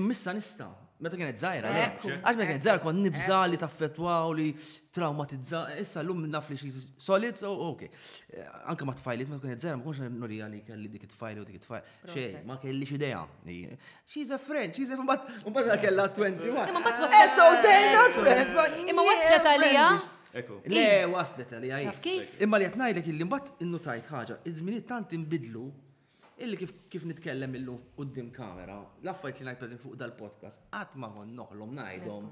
Speaker 1: Immissa nista, meta kienet zaħira, le. Għax meta kienet zaħira kont nibza li taffetwaw li traumatizza, issa l-lum naf li xie solid, so ok. Eh, anka ma tfajlit, meta kienet zaħira, ma konx nurija li kelli dik tfajli u dik tfajli. Xej, ma kelli xidea. She's a friend, she's a friend, but mbagħad kella 21. Imma mbagħad waslet. Eh, so they're not friends, but. Imma waslet għalija.
Speaker 3: Le,
Speaker 1: waslet għalija. Imma li qed ngħidlek illi mbagħad innutajt ħaġa, iż-żminijiet tant inbidlu Illi kif kif nitkellem illum quddiem kamera, l-affarijiet li ngħid pereżempju fuq dal-podcast qatt ma kont noħlom ngħidhom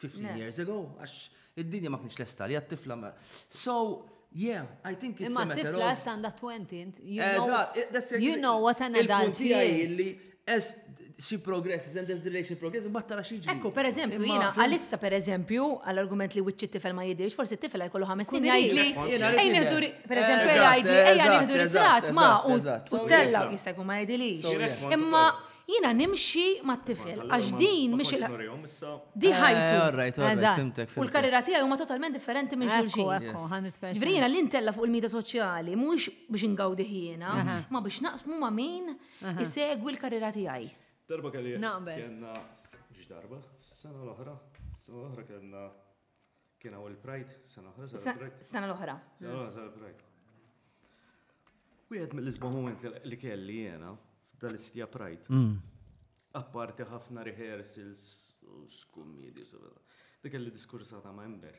Speaker 1: fifteen years ago għax id-dinja ma kienx lesta għalija t-tifla ma. So, yeah, I think it's a matter of. Imma t-tifla issa għandha twenty,
Speaker 2: you know what an adult is. Il-punt tiegħi hi li as
Speaker 1: she progresses and as the relation progresses, imbagħad tara xi ġri. Ekku, pereżempju, jiena
Speaker 3: għalissa pereżempju, għall-argument li wiċċi tifel ma jidhirx, forsi tifel jkollu ħames snin jgħidli. Ejn nieħdu pereżempju jgħidli, ejja nieħdu ritrat ma u tella jista' jkun ma jgħidilix. Imma jiena nimxi mat-tifel għax din mhix il Di eh, ħajtu. U
Speaker 1: l-karriera tiegħi huma
Speaker 3: totalment differenti minn xulxin. Ġifieri jiena l-intella fuq il-media soċjali mhux biex ingawdi jiena, ma biex naqsmu ma' min Isegwi l-karriera tiegħi. Darba kelli
Speaker 4: kellna x'darba, sena l-oħra, sena l-oħra kellna kien hawn il-Pride, sena l-oħra sena l-Pride. Sena l-oħra.
Speaker 3: Sena l-oħra sena l-Pride.
Speaker 4: Wieħed mill-isbaħ moment li kelli jiena f'dal-istja Pride. Mm. Apparti ħafna rehearsals u x'kummedju Dik kelli diskursata ma' Ember.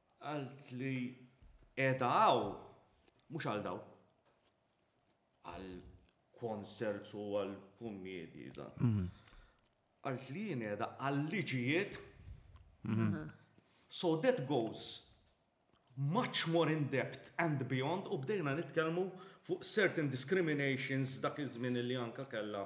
Speaker 4: Qallt li qiegħda hawn mhux għal dawn. Għal concerts u għal kummedji dan. Mhm. Qallt li jien qiegħda għal liġijiet. Mhm. So that goes much more in depth and beyond u bdejna nitkellmu fuq certain discriminations dak iż-żmien li anka kellha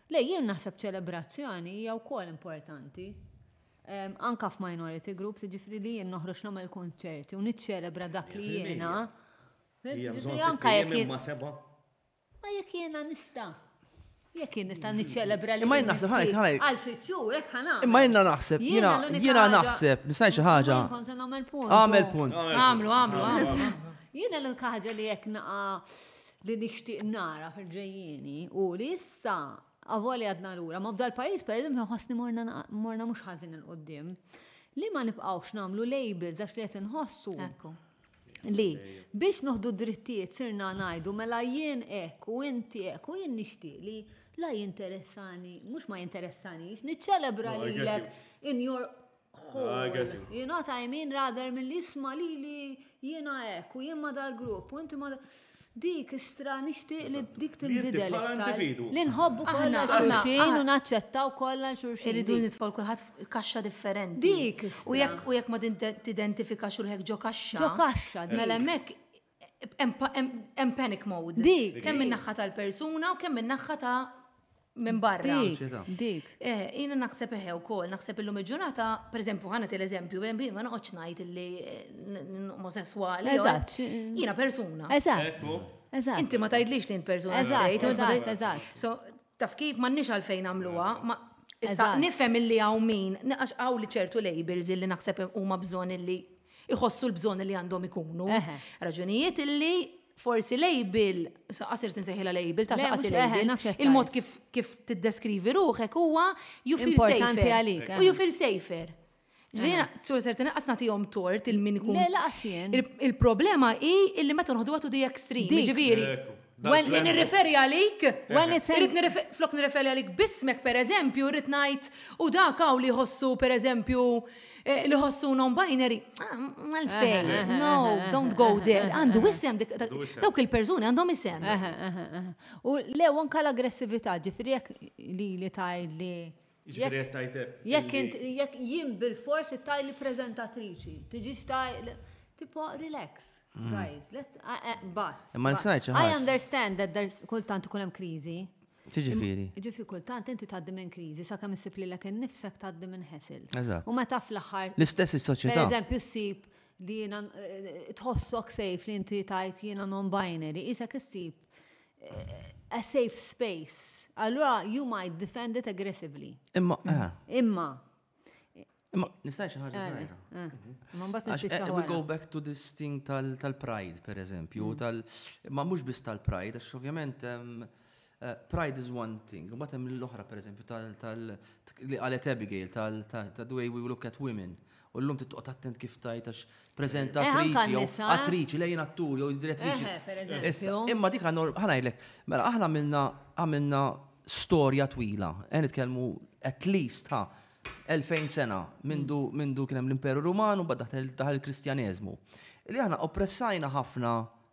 Speaker 2: Le, jien naħseb ċelebrazzjoni hija wkoll importanti. Anke f'minority groups, jiġifieri li jien noħroġ nagħmel kunċerti u niċċelebra dak li jiena. Hija bżonn anke jekk jien ma seba'. Ma jekk jiena nista'. Jekk jien nista' niċċelebra li. Imma jien naħseb ħalek ħalek.
Speaker 1: Għal sitt xhur hekk
Speaker 2: ħana. Imma jiena naħseb jiena
Speaker 1: jiena naħseb nista' xi ħaġa. Għamel
Speaker 2: punt. Għamlu,
Speaker 1: għamlu, għamlu.
Speaker 3: Jiena l-unika
Speaker 2: ħaġa li jekk naqa' li nixtieq nara fil-ġejjieni hu li issa, avolja għadna lura, ma f'dal-pajjiż pereżempju nħossni morna mhux ħażin 'il quddiem, li ma nibqgħux nagħmlu labels għax li qed inħossu li biex noħdu d-drittijiet sirna ngħidu mela jien hekk u inti hekk u jien nixtieq li la jinteressani, mhux ma jinteressanix, niċċelebra lilek in your Hu, you know what I mean, rather mill jisma li li jiena ek, u jien ma dal-grupp, u inti ma dik istra nixtieq li dik tinbidel. Li nħobbu kollha xulxin u naċċettaw kollha xulxin. Irridu nitfall kulħadd
Speaker 3: kaxxa differenti. Dik istra.
Speaker 2: U jekk ma
Speaker 3: tidentifikax ruħek ġo kaxxa. Ġo kaxxa. Mela
Speaker 2: hemmhekk
Speaker 3: Hemm panic mode. Dik. Kemm min-naħħa
Speaker 2: tal-persuna
Speaker 3: u kemm min-naħħa ta' minn barra. Dik.
Speaker 2: Eh, jiena naħseb
Speaker 3: eħe wkoll, naħseb illum il-ġurnata, pereżempju ħana l-eżempju, ma noqgħodx ngħid li eh, omosessuali. Eżatt.
Speaker 2: Jiena persuna.
Speaker 3: Eżatt.
Speaker 2: Eżatt. Inti ma
Speaker 3: tgħidlix li int persuna. Eżatt, eżatt, eżatt. So,
Speaker 2: Taf
Speaker 3: kif, m'għandniex għalfejn nagħmluha, ma issa Eżatt. nifhem illi hawn min, għax hawn li ċertu labels illi naħseb huma bżonn illi iħossu l-bżonn li għandhom ikunu. Eħe. Raġunijiet illi forsi label, sa qasirt insejħilha label, ta' Le, xaqas mhux- eħe, label, naf x'qed il-mod tgħid. kif kif tiddeskrivi ruħek huwa you feel Importanti safer. għalik, U eħe. you feel safer. Ġvina, sur ser tinqas nagħtihom tort il-min ikun. Le laqas jien.
Speaker 2: Il-problema hi
Speaker 3: illi meta nħodu għatu di extreme. Ġifieri. Well, nirreferi għalik, well, flok nirreferi għalik bismek per eżempju, rrit najt u dak għaw li ħossu per eżempju eh, li ħossu non-binary. Ah, Mal-fej, no, don't go there. Għandu isem, dawk il-personi għandhom isem. U
Speaker 2: lew anka l-aggressivita ġifri li li tajd li Jiġifieri qed tgħid Jekk illi- int jekk jien bilfors ittaj li preżentatriċi, tiġix taj li- tipo relax, guys, let's a- a- but. Imma nista' ngħid xi I ħaġa. understand that there's kultant ikun hemm kriżi. X'jiġifieri?
Speaker 1: Jiġifieri kultant
Speaker 2: inti tgħaddi minn kriżi sakemm issib lilek innifsek tgħaddi minn ħesel. Eżatt. U meta fl-aħħar L-istess Per is-soċjetà.
Speaker 1: eżempju, ssib
Speaker 2: li jiena eh, tħossok safe li inti tajt jiena non-binary, isek issib a safe space, allura you might defend it aggressively. Imma, eh. Imma.
Speaker 1: Imma, nistaj xi ħaġa eh, żgħira. Eh. Ma mbagħad nispiċċa. Eh, we go back to this thing tal-pride, per eżempju, mm. tal ma mhux biss tal-pride, għax ovvjament pride is one thing, u hemm l-oħra per eżempju tal li qalet Abigail tal the way we look at women. U llum trid toqgħod attent kif tgħid għax preżentatriċi jew attriċi lejn attur jew direttriċi. Issa, imma dik għandna ħa ngħidlek, mela aħna għamilna għamilna storja twila, qed nitkellmu at least ħa 2000 sena mindu mindu kien hemm l-Imperu Ruman u bad daħal il-Kristjaneżmu. Li aħna oppressajna ħafna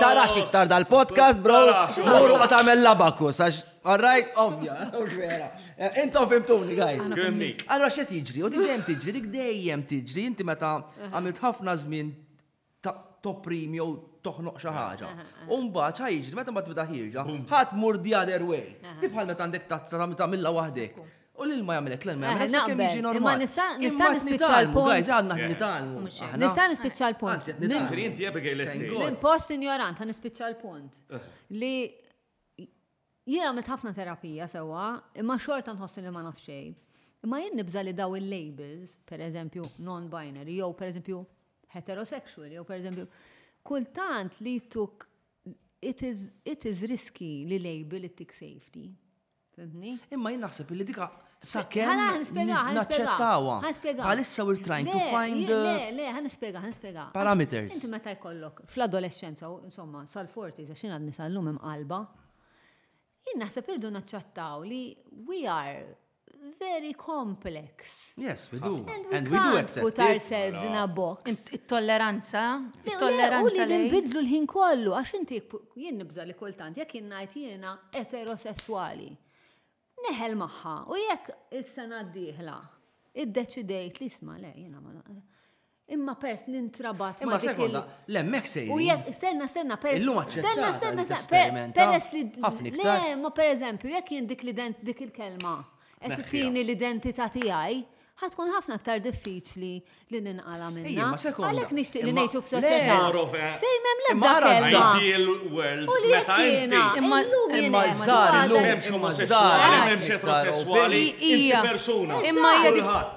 Speaker 1: Tarax iktar dal-podcast, bro. Mur u tagħmel labakus, għax Alright, ovvja. Intom fimtuni, guys. Allora, xe tiġri? U dik dejjem tiġri, dik dejjem tiġri. Inti meta għamilt ħafna żmien toprim jew toħnoq xi ħaġa. U mbagħad ħajġri meta ma tibda ħirġa, ħadd mur the other way. Bħal meta għandek tazza ta' milla waħdek. U l-ilma jagħmel hekk, l-ilma jagħmel hekk sakemm jiġi normali. Imma nista' nista' nispiċċa l-punt. Guys, għandna qed nitgħallmu. Nista' nispiċċa
Speaker 2: l-punt. Anzi, qed nitgħallmu. Inti Abigail qed
Speaker 4: Minn post injorant ħa
Speaker 2: nispiċċa l-punt. Li jiena għamilt ħafna terapija sewwa, imma xorta nħossi li ma naf xejn. Imma jien nibża li daw il-labels, per eżempju non-binary, jew per eżempju heterosexual, jew per eżempju, kultant li tuk it is, it is risky li label it-tik safety. Fimtni? Imma jien naħseb illi
Speaker 1: dika sakemm Ħala ħan nispjega, ħan nispjega. naċċettawha. Ħan nispjega. Bħalissa we're trying to Le, find le, le, uh, le, ħan nispjega, ħan
Speaker 2: nispjega. Għax parameters. Inti
Speaker 1: meta jkollok
Speaker 2: fl-adolescenza, u insomma, sal-40, għax jien għadni sal-lum imqalba, jien naħseb irdu naċċettaw li we are very complex. Yes, we do.
Speaker 1: And we do accept put
Speaker 2: ourselves in a box. It-tolleranza,
Speaker 3: it-tolleranza
Speaker 2: li nbidlu l-ħin kollu, għax inti jien nibża li kultant, jekk jien ngħid jiena eterosessuali. Neħel maħħa, u jekk is-sena d-dieħla, id-deċidejt li sma le, jiena ma Imma pers nintrabat ma' dik il-
Speaker 1: Le, mek sejri. U jek, stenna, stenna,
Speaker 2: pers. Illum aċċettata
Speaker 1: stenna, stenna, pers li. Ħafna iktar. Le, ma per eżempju, jek
Speaker 2: jien dik l-ident dik il-kelma. Qed tini l-identità tiegħi, ħatkun ħafna iktar diffiċli li ninqala minna. Ejja, ma sekonda. Għalek nixtieq li ngħixu f'soċjetà. Fejn m'hemm l-ebda kelma. Ideal world.
Speaker 4: U li jiena.
Speaker 2: Imma llum imma
Speaker 1: żgħar illum hemm xi omosessuali,
Speaker 4: hemm xi eterosessuali. Imma hija persuna. Imma hija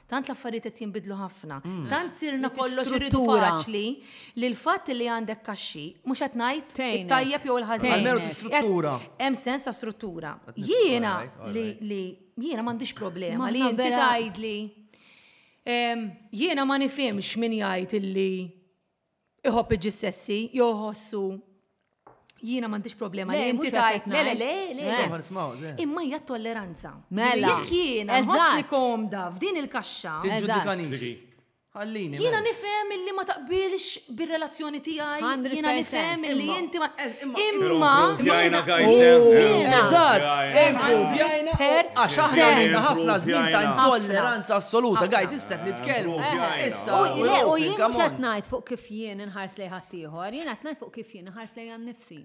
Speaker 3: Tant l-affarijiet qed jinbidlu ħafna. Mm. Tant sirna kollox iridu faċli li l-fatt li għandek kaxxi mhux qed ngħid tajjeb jew il-ħażin. Għalmenu struttura. Hemm sens ta' struttura. Jiena li jiena m'għandix problema li inti tgħidli. Jiena ma nifhimx min jgħid illi iħobb iġissessi, jew iħossu jiena m'għandix problema li inti tajt. Le, le,
Speaker 2: le, le.
Speaker 3: Imma
Speaker 1: hija tolleranza.
Speaker 3: Mela. Jekk jiena
Speaker 2: nħossni
Speaker 3: komda f'din il-kaxxa. Għallini.
Speaker 1: Jiena nifhem
Speaker 3: illi ma taqbilx bir-relazzjoni tiegħi. Jiena nifhem
Speaker 2: illi
Speaker 3: inti ma. Imma.
Speaker 4: Jajna għajna. Eżatt.
Speaker 1: Jajna. Għax aħna ħafna żmien ta' intolleranza assoluta. Għajz, isset nitkellmu. Le, u jien mhux
Speaker 2: qed ngħid fuq kif jien inħars lejn ħaddieħor, jien qed ngħid fuq kif jien inħars lejn nnifsi.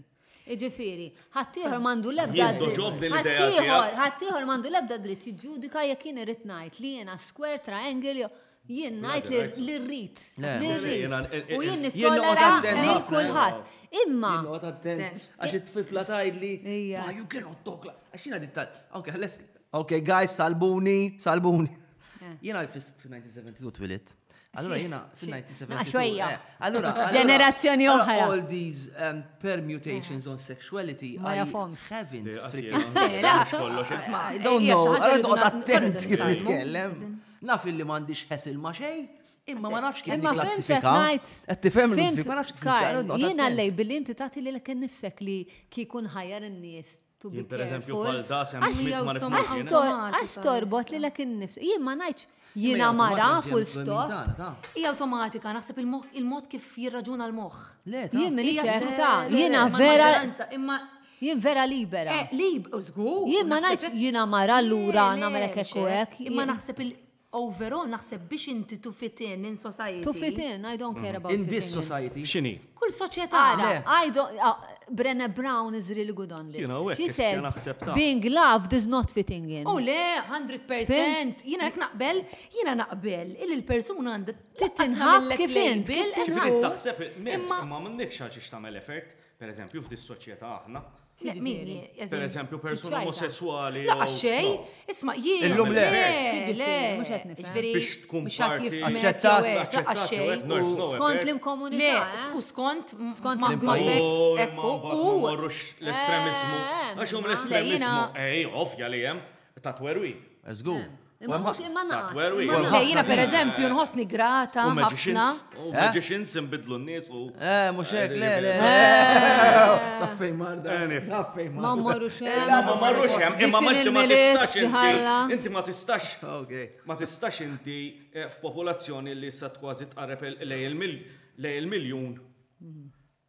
Speaker 2: Iġifieri, ħaddieħor m'għandu l-ebda ħaddieħor, ħaddieħor m'għandu l-ebda dritt jiġġudika jekk jien irid ngħid li jiena square triangle jew jien ngħid li rrid. U jien nittollera lil kulħadd. Imma. Għax
Speaker 1: it-tifla tgħidli, you cannot talk. Għax jiena dit. Okay, guys, salbuni, salbuni. Jena l-fist fil-1972 twilit. Allora jena fil-1972. Allora, ġenerazzjoni
Speaker 2: oħra. All these um,
Speaker 1: permutations on sexuality I haven't freaking. I don't know. Allora toqgħod attent kif nitkellem. Naf li m'għandix ħesil ma' xejn. Imma ma nafx kif niklassifika. Qed tifhem l ma nafx kif Jiena lej billi inti
Speaker 2: tagħti li l-ken nifsek li kikun ħajjar in-nies to
Speaker 4: be careful. Għax
Speaker 2: torbot li l-ek nifs. Jien ma najċ jina mara full stop. Ija automatika,
Speaker 3: naħseb il-mod kif jirraġuna l-moħ. Le, jien minni
Speaker 2: ċerta. Jina vera. Jien vera libera. Eh, lib, użgu. Jien
Speaker 3: ma najċ jina
Speaker 2: mara l-ura namelek ekku ek. Imma naħseb il-
Speaker 3: Overall naħseb biex inti to fit in in society. To fit in, I don't
Speaker 2: care about fitting in. In this society. X'inhi?
Speaker 1: F'kull soċjetà.
Speaker 3: Ara, I don't,
Speaker 2: Brené Brown is really good on this. She says being
Speaker 4: loved
Speaker 2: is not fitting in. Oh le,
Speaker 3: 100%. Jiena hekk naqbel, jiena naqbel illi l-persuna għandha titinħab kif
Speaker 2: int. Ġifieri taħseb
Speaker 4: imma m'għandekx għal xiex tagħmel effort, pereżempju f'dis-soċjetà aħna, Per eżempju, persuna omosessuali. La xej,
Speaker 3: isma' jien. Illum le.
Speaker 1: Le, mhux qed
Speaker 4: nifhem. Biex tkun parti. Aċċettat. La
Speaker 1: xej.
Speaker 2: Skont l-imkomunità. Le, u skont
Speaker 3: skont
Speaker 1: l-imkomunità.
Speaker 4: U. L-estremizmu. Għax hum l-estremizmu. Ej, ovvja li hemm. Ta' twerwil. Żgur. Eh.
Speaker 1: Imma mhux imma naqas. Le
Speaker 3: jiena pereżempju nħossni grata ħafna. U magicians
Speaker 4: inbidlu n-nies u. Eh, mhux hekk, le,
Speaker 1: le. Taffej marda. Taffej marda. Ma
Speaker 2: marrux hemm. Ma marrux hemm,
Speaker 4: imma ma tistax inti. Inti ma tistax. Ma tistax inti f'popolazzjoni li sa kważi tqareb lej il-miljun.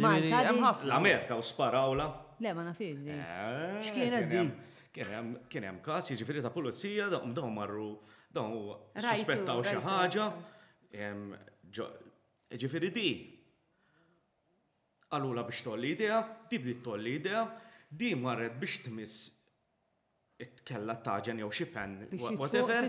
Speaker 4: Malta di.
Speaker 1: L-Amerika u sparawla.
Speaker 4: Le ma nafiex di.
Speaker 2: X'kienet di?
Speaker 1: Kien hemm
Speaker 4: każ jiġifieri ta' pulizija dawn marru dawn suspettaw xi ħaġa. Jiġifieri di qalulha biex tgħolli jdejha, di bdiet tgħolli jdejha, di marret biex tmiss kellha t-taġen jew xi pen whatever.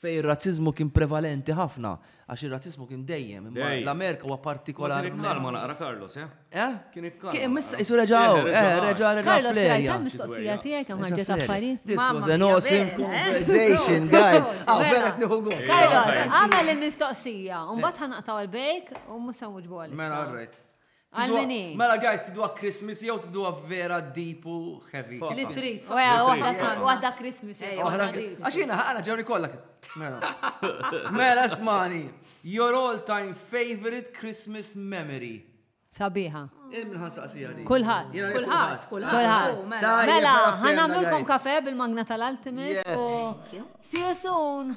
Speaker 1: fejn ir-razziżmu kien prevalenti ħafna, għax ir-razziżmu kien dejjem, imma l-Amerika huwa partikolarment. Kien ikkalma naqra Carlos,
Speaker 4: eh? Eh? Kien ikkalma. Kien missa qisu reġa' hawn,
Speaker 1: eh, reġa' reġa' Carlos, rajt tal-mistoqsija tiegħek
Speaker 2: hemm ħarġet affarijiet. This was an awesome
Speaker 1: conversation, guys. Aw vera qed nieħu gost. Carlos, għamel
Speaker 2: il-mistoqsija, u mbagħad ħanaqtaw il-break u mhux se nwiġbu għalissa. Mela, all right.
Speaker 1: Għal min hi?
Speaker 2: Mela guys, tidwa
Speaker 1: Christmas jew tidwa vera deep u heavy. Li trid.
Speaker 3: Waħda
Speaker 2: Christmas. Għax jiena
Speaker 1: ħana ġewni kollha. Mela. mela smani. Your all time favorite Christmas memory. Sabiħa.
Speaker 2: Kulħat.
Speaker 1: Kulħat.
Speaker 2: Kulħat. Mela, mela ħanamlulkom kafe bil-magna tal-Ultimate. See you soon.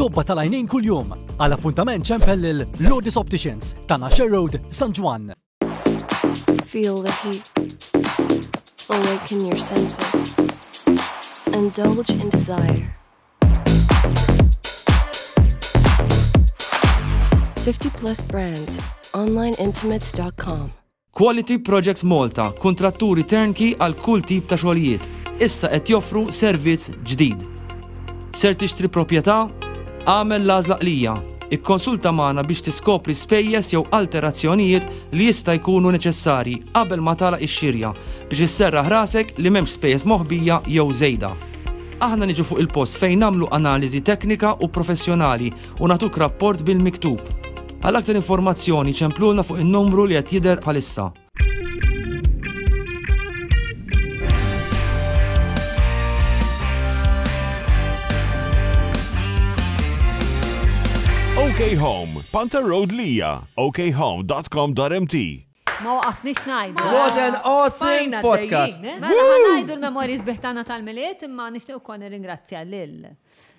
Speaker 5: Tobba tal-għajnejn kuljum. Għal appuntament ċempel lil Lourdes Opticians ta' Nasher Road, San Ġwann.
Speaker 6: Feel the heat. Awaken your senses. Indulge in desire. 50 plus brands. OnlineIntimates.com Quality
Speaker 1: Projects Malta, kuntratturi turnkey għal kull tip ta' xogħlijiet, issa qed joffru servizz ġdid. Ser tixtri proprjetà? Agħmel l-għażla qlija. Ikkonsulta magħna biex tiskopri spejjeż jew alterazzjonijiet li jista' jkunu neċessarji qabel ma tagħlaq ix-xirja biex isserraħ rasek li m'hemmx spejjeż moħbija jew żejda. Aħna niġu fuq il-post fejn nagħmlu analiżi teknika u professjonali u nagħtuk rapport bil-miktub. Għal aktar informazzjoni ċemplulna fuq in-numru li qed jidher bħalissa.
Speaker 7: OK Home, Panther Road Lija, okhome.com.mt Ma
Speaker 2: waqafnix najdu. What an awesome
Speaker 8: podcast! Mela ħanajdu
Speaker 2: l-memorji sbiħtana tal-miliet imma nixtieq ukoll nirringrazzja lil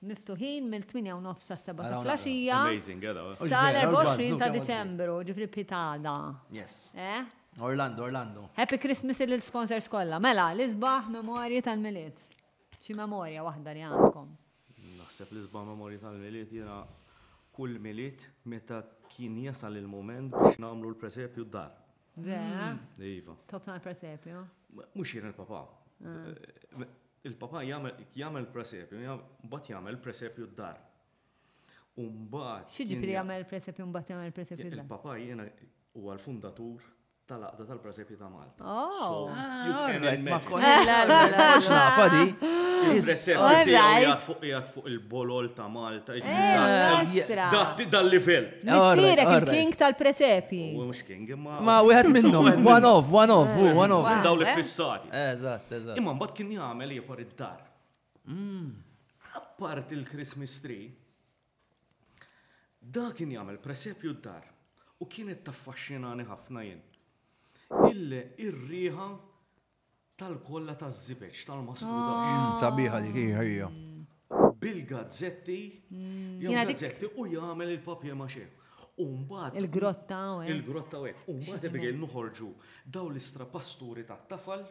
Speaker 2: miftuħin mill-tmienja u nofs sas-sebgħa ta'
Speaker 4: flaxija sal-24 ta'
Speaker 2: Diċembru, ġifieri bħit għada. Happy
Speaker 8: Christmas
Speaker 2: lill-sponsors kollha. Mela, l-isbaħ memorji tal-Milied. Xi memorja waħda li għandkom? Naħseb l-isbaħ
Speaker 4: memorji tal-Milied jiena kull Milied meta kien jasal il-mument biex nagħmlu l-presepju d-dar. Vera?
Speaker 2: Iva. Tobsna
Speaker 4: l-presepju?
Speaker 2: Mhux jien il-papà.
Speaker 4: Il-Papa jagħmel presepju, mbagħad jagħmel presepju d-dar. U mbagħad.
Speaker 2: X'jiġifieri jagħmel presepju mbagħad jagħmel presepju d-dar? Il-Papa jiena
Speaker 4: huwa l-fundatur tal-Għaqda tal-Presepju ta' Malta. Oh!
Speaker 2: Ma
Speaker 8: konniex nafa di. Il-presepju
Speaker 4: jgħat fuq jgħat fuq il-bolol ta' Malta. Dal-livell. Nisirek il-king
Speaker 2: tal-presepji. Imma
Speaker 4: wieħed minnhom,
Speaker 8: one off, one off, one off. Daw li fissati.
Speaker 4: Eżatt, eżatt. Imma
Speaker 8: mbagħad kien jagħmel
Speaker 4: ieħor id-dar. Mm. Appart il-Christmas tree, da kien jagħmel presepju d-dar u kienet taffaxxinani ħafna jien. Il-riħa tal-kolla taż-żibeġ tal-mastru dax. Sabiħa dik hi
Speaker 8: ħajja.
Speaker 4: Bil-gazzetti, jew gazzetti u jagħmel il-papier mache. U mbagħad. Il-grotta
Speaker 2: u hekk. Il-grotta u hekk. U mbagħad
Speaker 4: Abigail noħorġu dawn l-istrapasturi tat-tafal.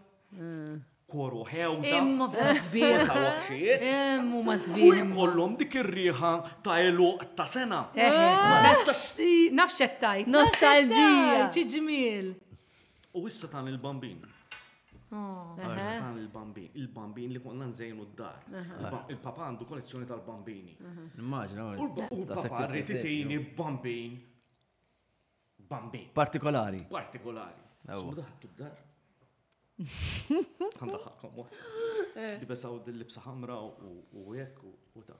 Speaker 4: Koru ħew. Imma f'dan żbieħ.
Speaker 3: Ta' waħxijiet.
Speaker 4: Hemm huma żbieħ.
Speaker 3: U kollhom
Speaker 4: dik
Speaker 3: ir-riħa
Speaker 4: ta' eluq ta' sena. Nafx qed
Speaker 3: tajt. Nostalġija.
Speaker 2: Ġi ġmiel.
Speaker 3: U issa
Speaker 4: tan il-bambin. Issa oh. tan il-bambin. Il-bambin li konna nżejnu d-dar. Il-papa għandu kollezzjoni tal-bambini. Immaġna. U
Speaker 8: l-papa
Speaker 4: rrit itini bambin. Bambin. Partikolari.
Speaker 8: Partikolari.
Speaker 4: Su daħtu d-dar. Għanda ħakkom. Dibesaw eh. dil-libsa ħamra u jekk u ta'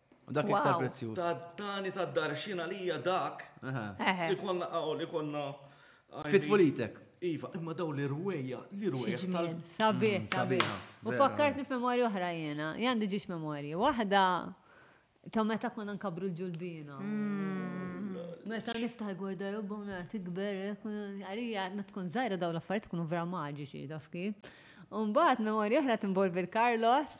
Speaker 4: Dak
Speaker 8: iktar prezzjuż. Tad-dani tad-dar
Speaker 4: xina li hija dak li konna qawl li konna.
Speaker 8: Fitfulitek. Iva, imma daw li
Speaker 4: rweja, li rweja. Sabi, mm, sabi.
Speaker 2: U fakkartni f'memorja oħra jena, jandi ġiex memorja. Waħda ta' meta konna nkabru l-ġulbina. Mm. Meta niftaħ gwarda robba u nara tikber, eh, għalija ma tkun zaħira daw l-affarijiet tkunu vera maġiċi, taf kif. Umbat, memorja oħra tinvolvi l-Carlos,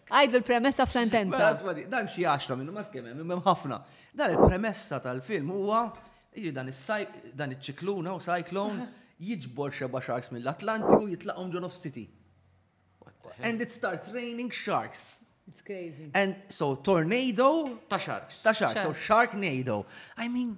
Speaker 8: Għid l-premessa
Speaker 2: f'sentenza. Mela asma di, dan xi għaxra
Speaker 8: minnu ma f'kemm hemm, imma hemm ħafna. Dan il-premessa tal-film huwa jiġi dan dan iċ-ċikluna u cyclone jiġbor xeba sharks mill-Atlantiku jitlaqhom ġo nofs city. And it starts raining sharks. It's crazy.
Speaker 2: And so
Speaker 8: tornado ta' sharks. Ta'
Speaker 4: sharks, so sharknado.
Speaker 8: I mean,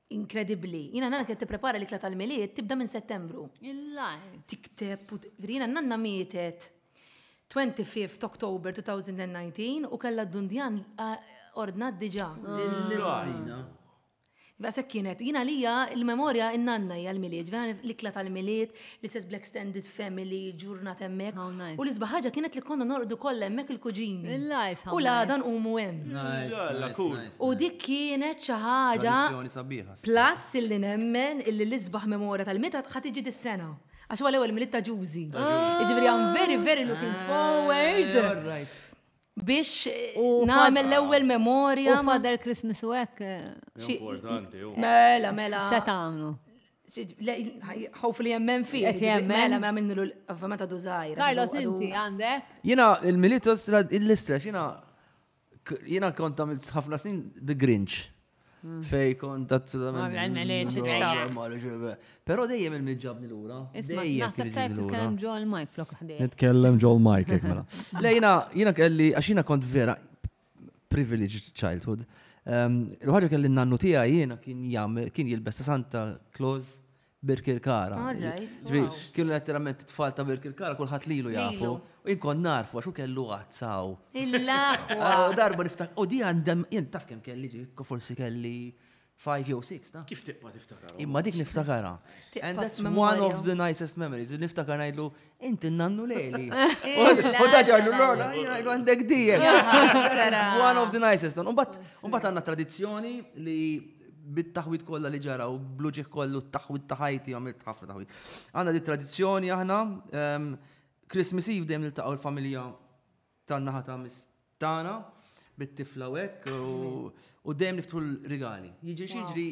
Speaker 3: Inkredibbli. Jiena nanna kienet tipprepara l-ikla tal-milied tibda minn Settembru. Il-lajt. Tikteb u jiena nanna mietet 25 Oktober 2019 u kellha d-dundjan ordnat diġà. Il-lajna. Għasek kienet, jina lija il-memorja in-nanna hija l-milied, l-ikla tal-milied, L-istess bl-extended family, ġurnat hemmhekk. How nice. U l-isbaħ ħaġa kienet li konna norqdu kollha hemmhekk il-kuġini. Il-lajs, how U l-għada nice. nqumu hemm. Nice, Jalla, nice, cool. nice, U nice. dik kienet xi ħaġa Tradizzjoni sabiħa. Plus illi nemmen illi l-isbaħ memorja tal-Mitgħad ħa tiġi dis-sena. Għax huwa l-ewwel Milied ta' Ġużi. Jiġifieri I'm very very looking forward. All right. biex nagħmel l-ewwel memorja. U Father
Speaker 2: Christmas
Speaker 3: u
Speaker 2: hekk. Importanti.
Speaker 4: Mela, mela.
Speaker 3: Se tagħmlu. Hopefully jemmen fi. Mela, ma minnu l-ovvjament għadu zaħir. Carlos, inti għandek?
Speaker 2: Jina, il-militos,
Speaker 8: l-istra, jina, jina konta ħafna snin The Grinch. Hmm. Fej kont assolutament. Pero dejjem il-mġabni l-ura. Nitkellem ġol
Speaker 2: Mike flok ħdej. Nitkellem ġol Mike,
Speaker 8: ek mela. Lejna, jina kelli, għaxina kont vera privileged childhood. Ehm, l-ħagġa kelli nannu tija jina kien jam, kien jilbes ta' Santa Claus Birkirkara. All right. Ġifieri, Wow. kienu letteralment it-tfal ta' Birkirkara kulħadd lilu jafu. Lilu. U jien kont narfu għax hu kellu għadd saw. Il-aħwa.
Speaker 3: U darba niftak,
Speaker 8: u di għandem, jien taf kemm kelli ġi, forsi kelli 5 jew 6, taf. Kif tibqa' tiftakarhom? Imma
Speaker 4: dik niftakarha.
Speaker 8: Tibqa' And that's one f'memorja. of the nicest memories. Niftakar ngħidlu, Inti nannu lejli. U da ġarlu l-għola, jgħajlu għandek dijek. One of the nicest. Un bat għanna tradizjoni li bit-taħwit kollha li ġara u bluġi kollu t-taħwit ta' ħajti għamilt ħafna taħwit. Għanna di tradizjoni aħna, ehm, Christmas Eve dejjem niltaqgħu l-familja Tan-naħa ta' mis tagħna bit-tifla u hekk u dejjem niftħu l-rigali. Jiġri xiġri.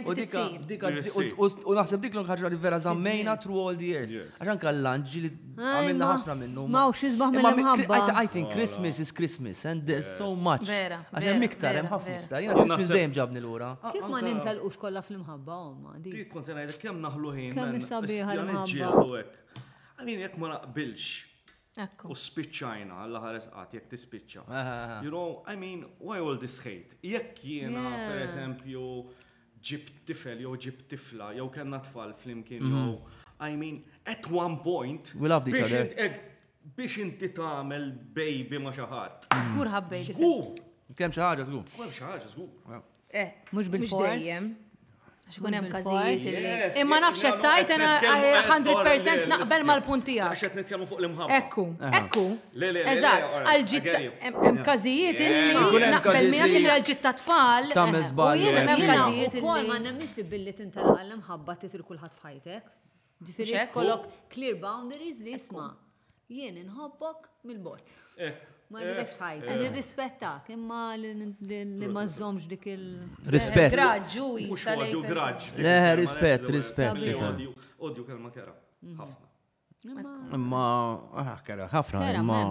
Speaker 8: U dika dika u naħseb dik l-ħaġa li vera żammejna through all the years. Għax anke l-lanġ li għamilna ħafna minnu. Ma hux isbaħ mill-imħabba.
Speaker 2: I think Christmas
Speaker 8: is Christmas and there's so much. Vera. Għax hemm iktar, hemm ħafna iktar. Jiena Christmas dejjem ġabni lura. Kif ma nintelqux
Speaker 2: kollha fl-imħabba omma. Dik kont se ngħidlek kemm
Speaker 4: naħlu ħin. Kemm is-sabiħa
Speaker 2: l-imħabba. I mean
Speaker 4: jekk ma naqbilx Ekku. U spiċċajna, alla ħares qatt jekk tispiċċa. You know, I mean, why all this hate? Jekk jiena, Yeah. per eżempju, ġib tifel jew ġib tifla jew kellna tfal flimkien jew I mean, at one point We loved each biex other. int- eg-
Speaker 8: biex inti
Speaker 4: tagħmel baby ma' xi ħadd. Żgur ħabbejt. Żgur!
Speaker 3: Kemm xi
Speaker 4: ħaġa żgur.
Speaker 8: Kol xi ħaġa żgur.
Speaker 4: Eh, mhux bil-fors.
Speaker 2: Xkun hemm
Speaker 3: każijiet. Imma nafx qed tajt ena 100% naqbel mal-punt tiegħek. Għax qed nitkellmu fuq l-imħabba.
Speaker 4: Ekku, ekku.
Speaker 3: Le, le, eżatt. Għal-ġitta hemm każijiet illi naqbel miegħek li għal-ġitta tfal. Tagħmel żball. Hemm
Speaker 8: każijiet
Speaker 3: ukoll ma nemminx li
Speaker 2: billi tintalaq l-imħabba titil kulħadd f'ħajtek. Ġifieri kollok clear boundaries li jisma' jien inħobbok mill-bot. Eh, ma eh, nidekx ħajt, eh. nirrispettak, imma li ma żomx dik il. Rispett.
Speaker 8: Graġġu,
Speaker 3: jisalew. Graġġ.
Speaker 4: Le, rispett,
Speaker 8: rispett.
Speaker 4: Odju kelma kera. Mhm.
Speaker 8: Ħafna. Imma, ah, kera, ħafna, imma.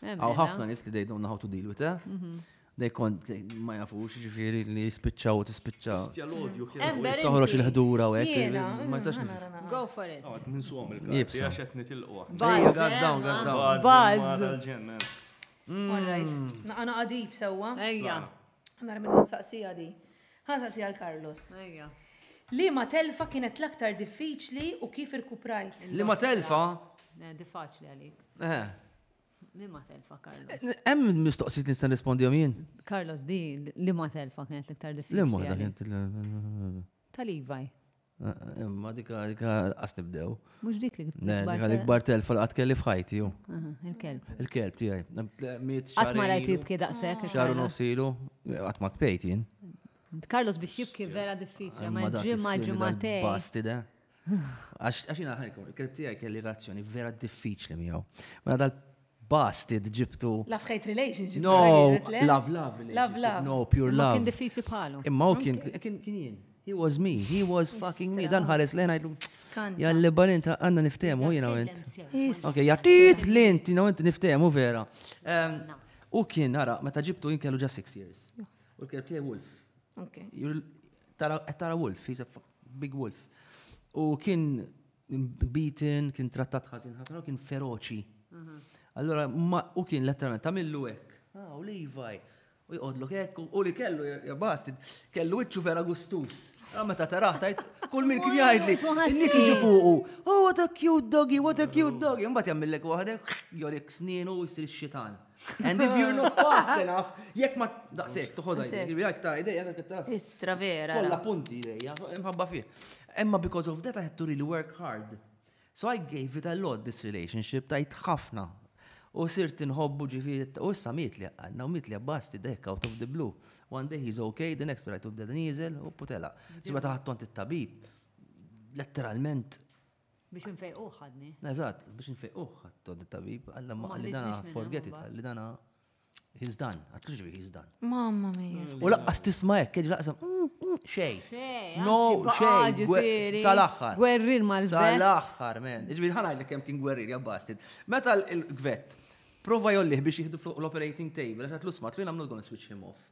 Speaker 8: Għaw ħafna nis li dejdon how to deal with that. Mhm. Dej kont ma jafux ġifiri li jispicċa u tispicċa. Istja l-odju kienu.
Speaker 4: Soħroċ
Speaker 2: il-ħdura u
Speaker 8: għek. Ma jistax nifhem. Go for it.
Speaker 2: Għad ninsuhom il-karti
Speaker 4: għax qed nitilqu. Bajja, gaz dawn, gaz
Speaker 8: dawn. Bajz. All
Speaker 2: right.
Speaker 3: Naqana għadib sewwa. Ejja.
Speaker 2: Nara minn
Speaker 3: saqsija di. Għan saqsija l-Carlos. Ejja.
Speaker 2: Li ma
Speaker 3: telfa kienet l-aktar diffiċli u kif irkuprajt? Li ma telfa?
Speaker 8: Di faċli
Speaker 2: għalik. Eh. Li ma telfa, Carlos. Hemm mistoqsijiet
Speaker 8: nista' nispondihom jien? Carlos, di
Speaker 2: li ma telfa kienet l-iktar diffiċli. Li ma kienet.
Speaker 8: Tal-Ivaj.
Speaker 2: Imma
Speaker 8: dika dika qas nibdew. Mhux dik li
Speaker 2: Dika l-ikbar telfa
Speaker 8: li qatt kelli f'ħajti ju. Il-kelb.
Speaker 2: Il-kelb
Speaker 8: tiegħi. Qatt ma
Speaker 2: rajt jibki daqshekk. Xaru nofsilu,
Speaker 8: qatt ma kpejt jien. Carlos biex
Speaker 2: jibki vera diffiċli, ma ġimgħa ġimgħatej. Bastida.
Speaker 8: Għax jina ħajkom, il-kelb tijaj kelli razzjoni vera diffiċli miegħu. Mela dal basti ġibtu. Love hate relationship.
Speaker 3: No, love
Speaker 8: love relationship. Love love. No, pure love. Kien diffiċli bħalu.
Speaker 2: Imma
Speaker 8: u
Speaker 2: kien
Speaker 8: kien jien. He was me, he was fucking me. Dan ħares lejn għajdu. Jalli balin
Speaker 3: ta' għanna
Speaker 8: niftemu, jina għent. Ok, jattit lint, jina għent niftemu vera. U kien, għara, meta ġibtu jien kellu ġa 6 years. U kien tiegħi Wolf. Tara Wolf, he's a Big Wolf. U kien beaten, kien trattat ħażin ħafna, kien feroċi. Mhm. Allora, u kien letteralment tamillu hekk. Ah, u Levi. U jqodlu hekk, u li kellu, jabast, kellu iċċu vera gustus. Ah, meta taraħ, tajt, kull minn kien jgħidli, n-nis iġu fuqu. Oh, what a cute doggy, what a cute doggy. Mbat jammillek waħdek, jorik sninu, jisir xitan. And if you look fast enough, jekk ma daqsek, toħodha jdejk, jekk tara jdejja, jekk tara. Istra vera. Kolla
Speaker 3: punti jdejja,
Speaker 8: imħabba fih. Emma because of that I had to really work hard. So I gave it a lot this relationship, tajt ħafna. U sirt inħobbu ġifiri, u issa mitli għanna, u mitli għabbasti dek out of the blue. One day he's okay, the next day I took the diesel, u putela. Ġibba taħt tont it-tabib, letteralment Biex
Speaker 2: infejquh ħadni. Eżatt, biex infejquh
Speaker 8: ħadtu dit-tabib, għalla ma li dana forget it, li dana he's done, għat kux he's done. Mamma mia. U
Speaker 3: laqqas tisma hekk,
Speaker 8: kien laqqas mm, mm, xej. No,
Speaker 2: xej.
Speaker 8: Sal-aħħar. Gwerrir mal
Speaker 2: Sal-aħħar, men.
Speaker 8: Ġifieri ħana li kemm kien gwerrir jabbastit. Meta l-gvet prova jollih biex jieħdu fuq l-operating table, għax għatlu smat li nagħmlu għon switch him off.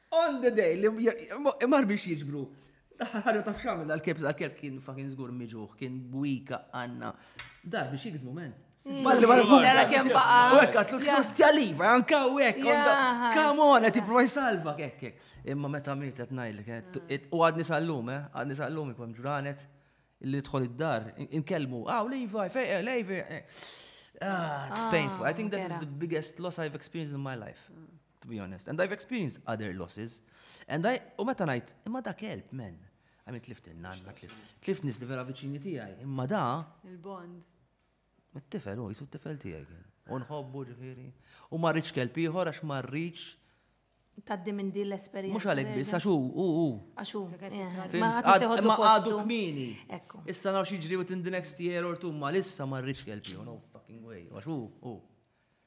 Speaker 8: On the day li mar biex jiġbru. Daħħal ħarġa taf xamil dal-kelb, dal-kelb kien fakin zgur miġuħ, kien bwika għanna. Dar biex jikdmu men. Malli ma nfum. Dara kem
Speaker 3: baqa. U ekk għatlu t-ħosti
Speaker 8: għaliva, għanka u ekk. Kamon, għet jiprofa jisalva, ekk ekk. Imma meta miet għet najli, u għadni sallum, eh, għadni sallum jkun ġranet li tħol id-dar, inkellmu, għaw ah, lejva, fejqa, eh, lejva. Eh. Ah, it's ah, painful. I think that is the biggest loss I've experienced in my life. Mm. to be honest. And I've experienced other losses. And I, u meta ngħid, imma da kelb, men. I mean, tlift il-nanna, tlift nis li vera viċini tiegħi, imma da. Il-bond. Mit-tifel, u jisu t-tifel tiegħi kien. U nħobbu ġifieri. U ma rridx kelb ieħor għax ma rridx taddi
Speaker 3: minn din l-esperienza. Mux għalek biss, għaxu,
Speaker 8: u, u. Għaxu,
Speaker 3: eh,
Speaker 8: ma għadu kmini. Issa nafx
Speaker 3: iġri within
Speaker 8: the next year or two, ma lissa ma rridx kelb ieħor, no fucking way. Għaxu, u.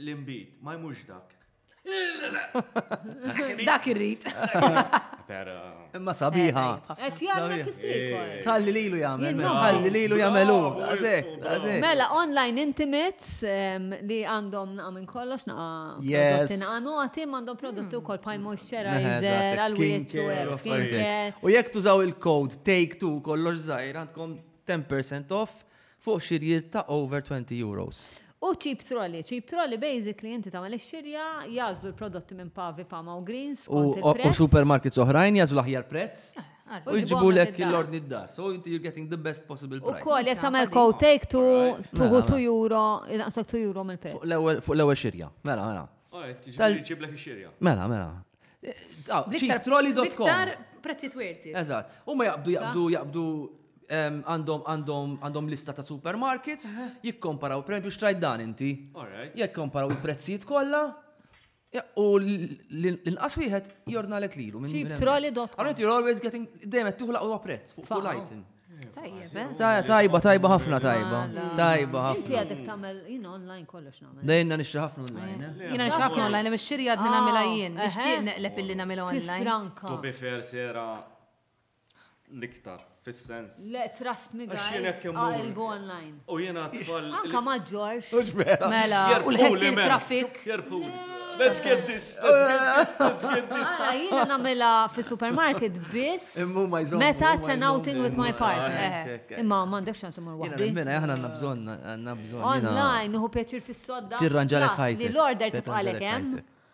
Speaker 4: L-imbit, ma jmux
Speaker 3: dak. Dak irrit.
Speaker 4: Imma sabiħa.
Speaker 8: Et jgħamil kif
Speaker 2: tikol. Talli lilu jgħamil,
Speaker 8: talli lilu jgħamilu.
Speaker 2: Mela, online intimates li għandhom naqa minn kollox naqa. Yes. Għanu għatim għandhom prodotti u kol paj moisturizer, għal-skincare. U jek tużaw
Speaker 8: il-code take two kollox zaħir għandkom 10% off Fuq xirjiet ta' over €20. U cheap
Speaker 2: trolley. Cheap trolley basically inti tagħmel ix-xirja, jagħżlu l-prodotti minn Pavi, Pama u Greens skont il-prezz. U supermarkets oħrajn
Speaker 8: jagħżlu l-aħjar prezz u jġibulek l-ordni d-dar. So inti you're getting the best possible price. Ukoll jekk tagħmel co-take
Speaker 2: tu tuħu €2, jnaqqslok €2 mill-prezz. Fuq l-ewwel xirja.
Speaker 8: Mela, mela. Alright, jiġifieri jġiblek
Speaker 4: ix-xirja. Mela, mela.
Speaker 8: Ċitroli.com. Iktar
Speaker 3: prezzi twirti. Eżatt. U ma jaqbdu,
Speaker 8: jaqbdu, jaqbdu għandhom għandhom għandhom lista ta' supermarkets, jikkomparaw, per esempio, xtrajt dan inti. Jikkomparaw il-prezzijiet kollha. U l-inqas wieħed jornalek lilu. Ċitroli.com. Għallu
Speaker 2: you're always getting,
Speaker 8: dejjem qed tuħlaq u prezz fuq kull item. Tajba, tajba
Speaker 3: ħafna tajba.
Speaker 8: Tajba ħafna. Inti għadek tamel,
Speaker 2: jina online kollox namel. Dejna nixri ħafna online. Eh?
Speaker 8: Jina nixri ħafna online,
Speaker 3: mux xiri għadni namela ah, jien. Nixtieq eh? neqleb illi namela online. Franka. Tu bi fair
Speaker 2: sera
Speaker 4: l-iktar, fil-sens. Le, trust me
Speaker 2: guys, għalbu online. U jena tfal.
Speaker 4: Anka ma ġorx.
Speaker 2: Mela, u
Speaker 3: l-ħessin trafik. Let's get this, let's
Speaker 4: get this, let's get this. Għala, jina
Speaker 2: namela fi supermarket biss. Immu ma jżom. Meta it's an outing with my partner. Imma mandek xan sumur wahdi. Jina mela, jahna għanna bżon,
Speaker 8: għanna bżon. Online, uħu pjaċir
Speaker 2: fis-sodda. Tirranġalek ħajt. Li
Speaker 8: l-order tibqalek,
Speaker 2: eh?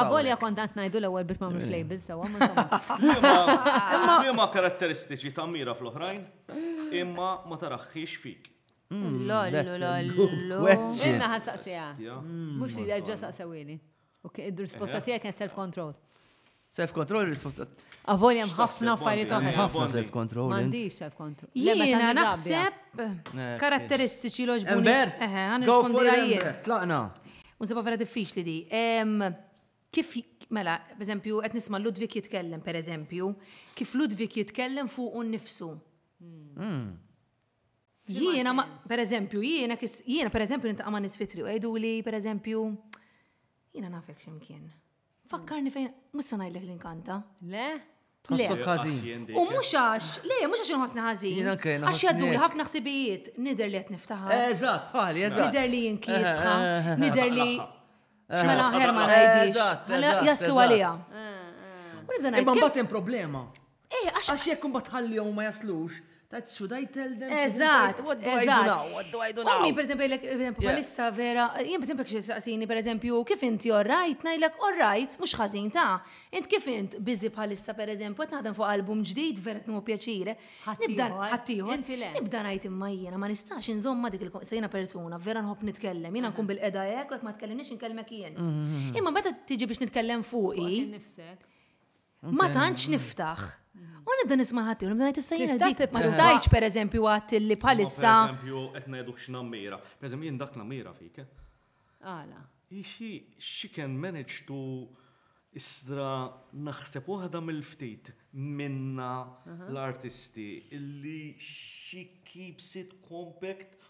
Speaker 8: Avolja kont għant
Speaker 2: najdu l-ewel biex mamlux eh. label sewa. Imma
Speaker 4: karatteristiċi ta' mira fl-oħrajn, imma ma taraħħix fik. Mm, lollu, lollu.
Speaker 8: Inna ħan saqsija.
Speaker 2: Mm, Mux li ġa saqsawini. U id-risposta eh. tijak kien self-control. Self-control
Speaker 8: risposta. Avolja mħafna
Speaker 2: affarijiet oħra. Mħafna self-control.
Speaker 8: Mandi self-control.
Speaker 2: Jena naħseb
Speaker 3: eh, karatteristiċi loġbuni. Ember, go for
Speaker 8: it. Tlaqna. U nsibha vera
Speaker 3: diffiċli di. Kif, mela, b'eżempju, qed nisma' Ludwig jitkellem, per eżempju, kif Ludwig jitkellem fuq un nifsu. Hmm. Jiena, per eżempju, jiena, jiena, per eżempju, nintaqa' ma' nisfitri u għajdu li, per eżempju, jiena nafek ximkien. Fakkarni fejn, mhux se ngħidlek li nkanta. Le? Tħossok
Speaker 2: każin.
Speaker 3: U mhux għax, le, mhux għax inħossni ħażin. Jiena kien. Għax jaddu ħafna ħsibijiet, nidher li qed niftaħar. Eżatt, bħali, eżatt.
Speaker 8: Nidher li jinkiesħa, eh, eh,
Speaker 3: eh, nidher li. Mela ħer ma ngħidix. Mela jaslu għaliha. U nibda
Speaker 8: ngħid. Imma mbagħad hemm problema. Eh, għax. Għax jekk imbagħad tħallihom u ma jaslux, tajt xu daj tell them. Eżatt. Għaddu
Speaker 3: għajdu naw,
Speaker 8: għaddu għajdu naw. Ummi, per eżempju, jgħidlek, per eżempju,
Speaker 3: palissa vera, jien per eżempju kxie saqsini, per eżempju, kif inti all right, ngħidlek all right, mhux ħażin ta'. Int kif int biżi bħalissa per eżempju, qed naħdem fuq album ġdid vera tnu pjaċire. Nibda ħaddieħor. Nibda ngħid imma jiena ma nistax inżomma dik il-sejna persuna, vera nħobb nitkellem, jiena nkun bil-qeda hekk u jekk ma tkellimniex inkellmek jien. Mm-hmm. Imma meta tiġi biex nitkellem fuqi. Ma tantx niftaħ. U nibda nisma' ħadd u nibda ngħid issa jiena dik ma stajtx pereżempju għadt li bħalissa. Pereżempju qed ngħidu
Speaker 4: x'nammira. Pereżempju jien dak nammira fik. Eh? Għala.
Speaker 2: Ixi
Speaker 4: she can manage to istra naħseb waħda mill-ftit minna l-artisti illi she keeps it compact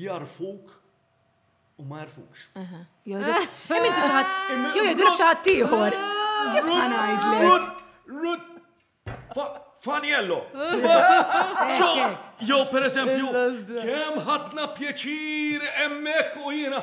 Speaker 4: jagħrfuk u ma jagħrfukx.
Speaker 3: Jew jgħidulek xi ħadd ieħor. Kif ma
Speaker 4: ngħidlek?
Speaker 3: Rut
Speaker 4: Faniello. Jew pereżempju kemm ħadna pjaċir hemmhekk u jiena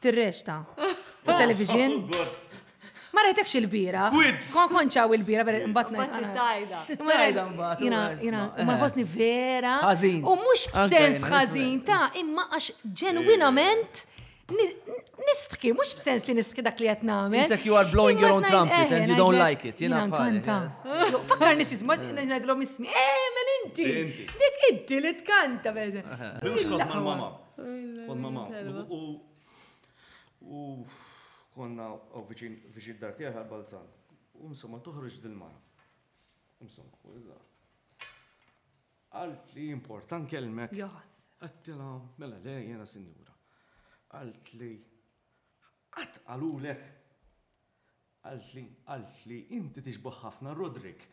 Speaker 3: Tirrexta. Il-television. Ma rajtekx il-bira. Quiz! Kon konċaw il-bira, per imbat
Speaker 2: tajda.
Speaker 3: Ma ħosni vera. Ħazin. U mux
Speaker 8: b'sens
Speaker 3: ħazin ta' imma għax ġenwinament nistħki, mux b'sens li nistħki dak li għet namel. Isek you are blowing your own
Speaker 8: trumpet and you don't like it. Jina kanta.
Speaker 3: Fakkar nix jisma, najdlom ismi, eh, mel inti. Dik inti li tkanta, bħedha. Bimx kont ma' mama.
Speaker 4: Kont ma' mamma. U konna u viċin dar tiegħi għal Balzan. U insomma toħroġ dil-mara. Insomma, u illa. Għalt li importan kelmek. Jaħs. Għattila, mela le, jena sinjura. Għalt li. Għat għalulek. Qaltli, qaltli, inti tixbah ħafna Roderick.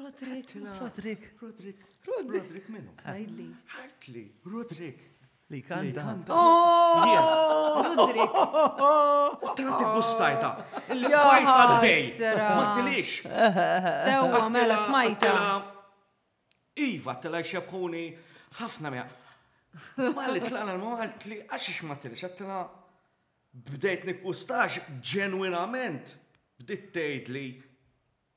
Speaker 4: Roderick. Għedtilha. Roderick. Roderick. Roderick. Roderick minnu. Tgħidli. Qaltli, Roderick. Li kanta.
Speaker 8: Oh!
Speaker 3: Roderick. U
Speaker 4: tanti gustajta. Illi bajta l-dej. Ma tilix. Sewa,
Speaker 3: mela smajta.
Speaker 4: Iva, tela xebħuni ħafna mea. Malli tlaqna l-mawalt li għaxix ma tilix, għattila Bdejt niggwusta għax ġenwinament bdiet tgħidli,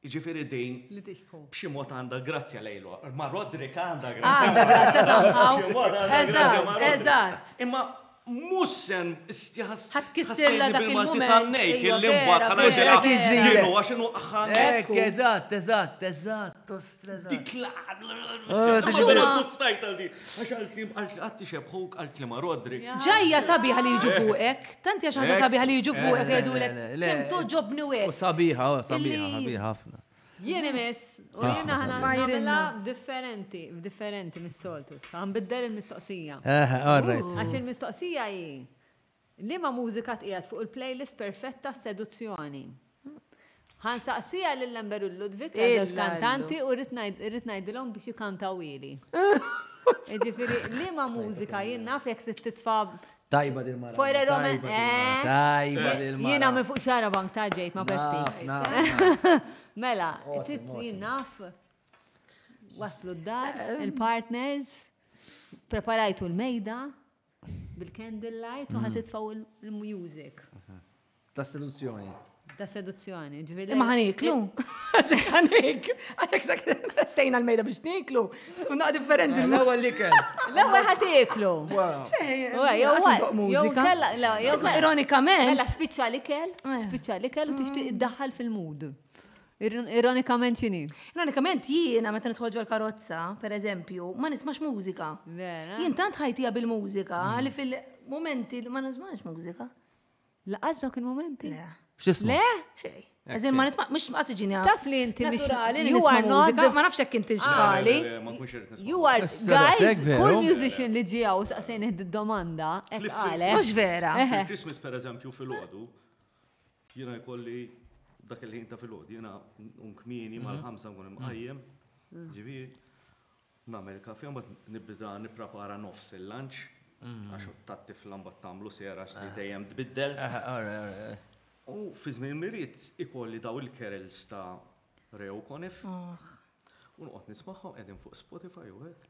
Speaker 4: jiġifieri din b'xi mod għandha grazzja lejlu. Ma' Roderick għandha
Speaker 3: grazzja.
Speaker 4: Għandha grazzja
Speaker 3: somehow. Eżatt. Imma
Speaker 4: mhux se nstjaħas.
Speaker 8: Ħadd
Speaker 4: kissirla dak il-mument. Għax għal-klim għal għatti xebħuk għal-klima rodri. Ġajja sabiħa li
Speaker 3: jiġu fuqek, tant jaxa ġa sabiħa li jiġu fuqek jgħidu l kem toġobni u U sabiħa, u sabiħa,
Speaker 8: sabiħa ħafna. Jien imis,
Speaker 2: u jien ħana fajrilla differenti, differenti mis-soltu. Għan biddel il-mistoqsija. Eħe, all right. Għax il-mistoqsija jien. Liema mużika tqiegħed fuq il-playlist perfett tas-seduzzjoni? Ħa nsaqsiha lil Amber u Ludwig għal żewġ kantanti u rrid ngħidilhom biex ikantawhieli. Jiġifieri liema mużika jien naf jekk trid titfa' Tajba din mara.
Speaker 8: Fojra Rome.
Speaker 2: Tajba din
Speaker 8: mara. Jiena minn fuq xara bank
Speaker 2: ta' ġejt ma' Peppi. Mela, trid jien naf waslu d-dar, il-partners, preparajtu l-mejda. Bil-candle light u ħa titfgħu l-music. Ta'
Speaker 8: seduzzjoni. Ta' seduzzjoni,
Speaker 2: ġviri. Imma ħan iklu.
Speaker 3: Għaxek ħan iklu. Għaxek sak stejna l-mejda biex niklu. Tuna differenti. Eh, l-ewel li kell.
Speaker 8: L-ewel ħat iklu.
Speaker 3: Ironikament. Mela spiċċa li kell,
Speaker 2: eh. spiċċa li kell u tixtieq id-daħħal fil-mood. Ironikament xini? Ironikament jiena
Speaker 3: meta nidħol ġol karozza, per eżempju, ma nismax mużika. Jien tant ħajtija bil-mużika mm. li fil-momenti ma nismax mużika. Laqas dawk
Speaker 2: il-momenti? Le. X'isma? Le?
Speaker 3: Xej. Eżin ma nisma, mux ma siġini għaf. Taf li inti mux għali
Speaker 2: li nisma
Speaker 3: mużika, ma nafx jek inti xbali. You are,
Speaker 2: guys, kull musician li ġija u saqsejn id-domanda, ek għale. Mux vera. Christmas,
Speaker 3: per eżempju,
Speaker 4: fil-ħodu, Jiena jkolli dak il-ħin ta' filgħodu, jiena nkun kmieni mal-ħamsa nkun imqajjem, ġifieri nagħmel kafe mbagħad nibda nipprepara nofs il-lunch għax tat-tifla mbagħad tagħmlu sera x'li dejjem tbiddel. U fi żmien il-miried ikolli daw il-kerels ta' Re u Konif. U noqgħod nismagħhom qegħdin fuq Spotify u hekk.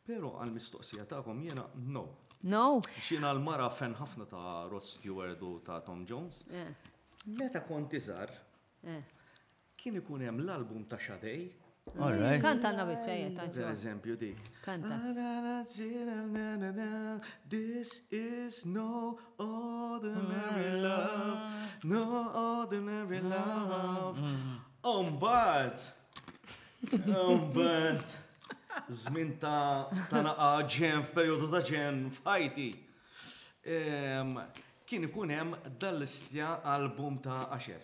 Speaker 4: Però għall-mistoqsija tagħkom jiena no. No?
Speaker 2: X'jiena l-mara
Speaker 4: fen ħafna ta' Rod Stewart u ta' Tom Jones. Eh. Meta kont iżgħar, eh. kien ikun hemm l-album ta' Xadej Kanta għanna
Speaker 2: bieċa jett, Per eżempju dik.
Speaker 4: Kanta. This is no Ordinary love, no ordinary love. Umbat! Umbat! Zmin ta' ta' naqa ġen f'periodu ta' ġen f'ħajti. Kien ikun hemm dal-istja album ta' Asher.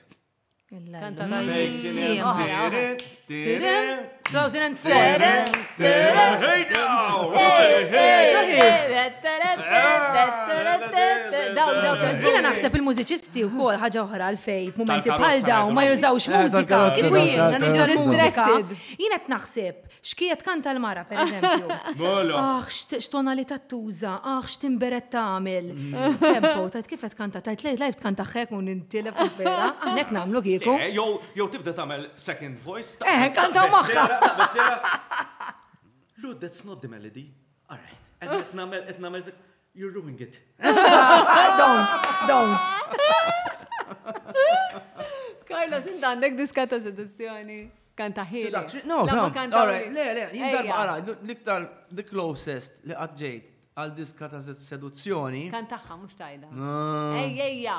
Speaker 3: Jina naħseb il-mużiċisti u kol ħagġa oħra l-fej, momenti bħal daw, ma jużawx mużika, jina t-naħseb X'kija tkanta l-mara, per eżempju. Mela! Aħ, x'tonalità tuża, aħ, x'timberet tagħmel. Tempo, tgħid kif qed tkanta, tgħid lejt lajf tkanta hekk u nintilef kif vera, aħna hekk nagħmlu kieku. Le, jew jew tibda tagħmel
Speaker 4: second voice ta'. Eħe, kantaw magħha! Lud, that's not the melody. All right. Qed nagħmel, qed nagħmel. You ruined it. don't,
Speaker 3: don't.
Speaker 2: Carlos, int għandek diska ta' seduzzjoni. Kan taħil. No, no,
Speaker 8: alright, le, le, jindar mara, l-iktar, the closest li għadġejt għal diska ta' seduzzjoni. Kan taħħa, mux tajda.
Speaker 2: Ejja, ejja.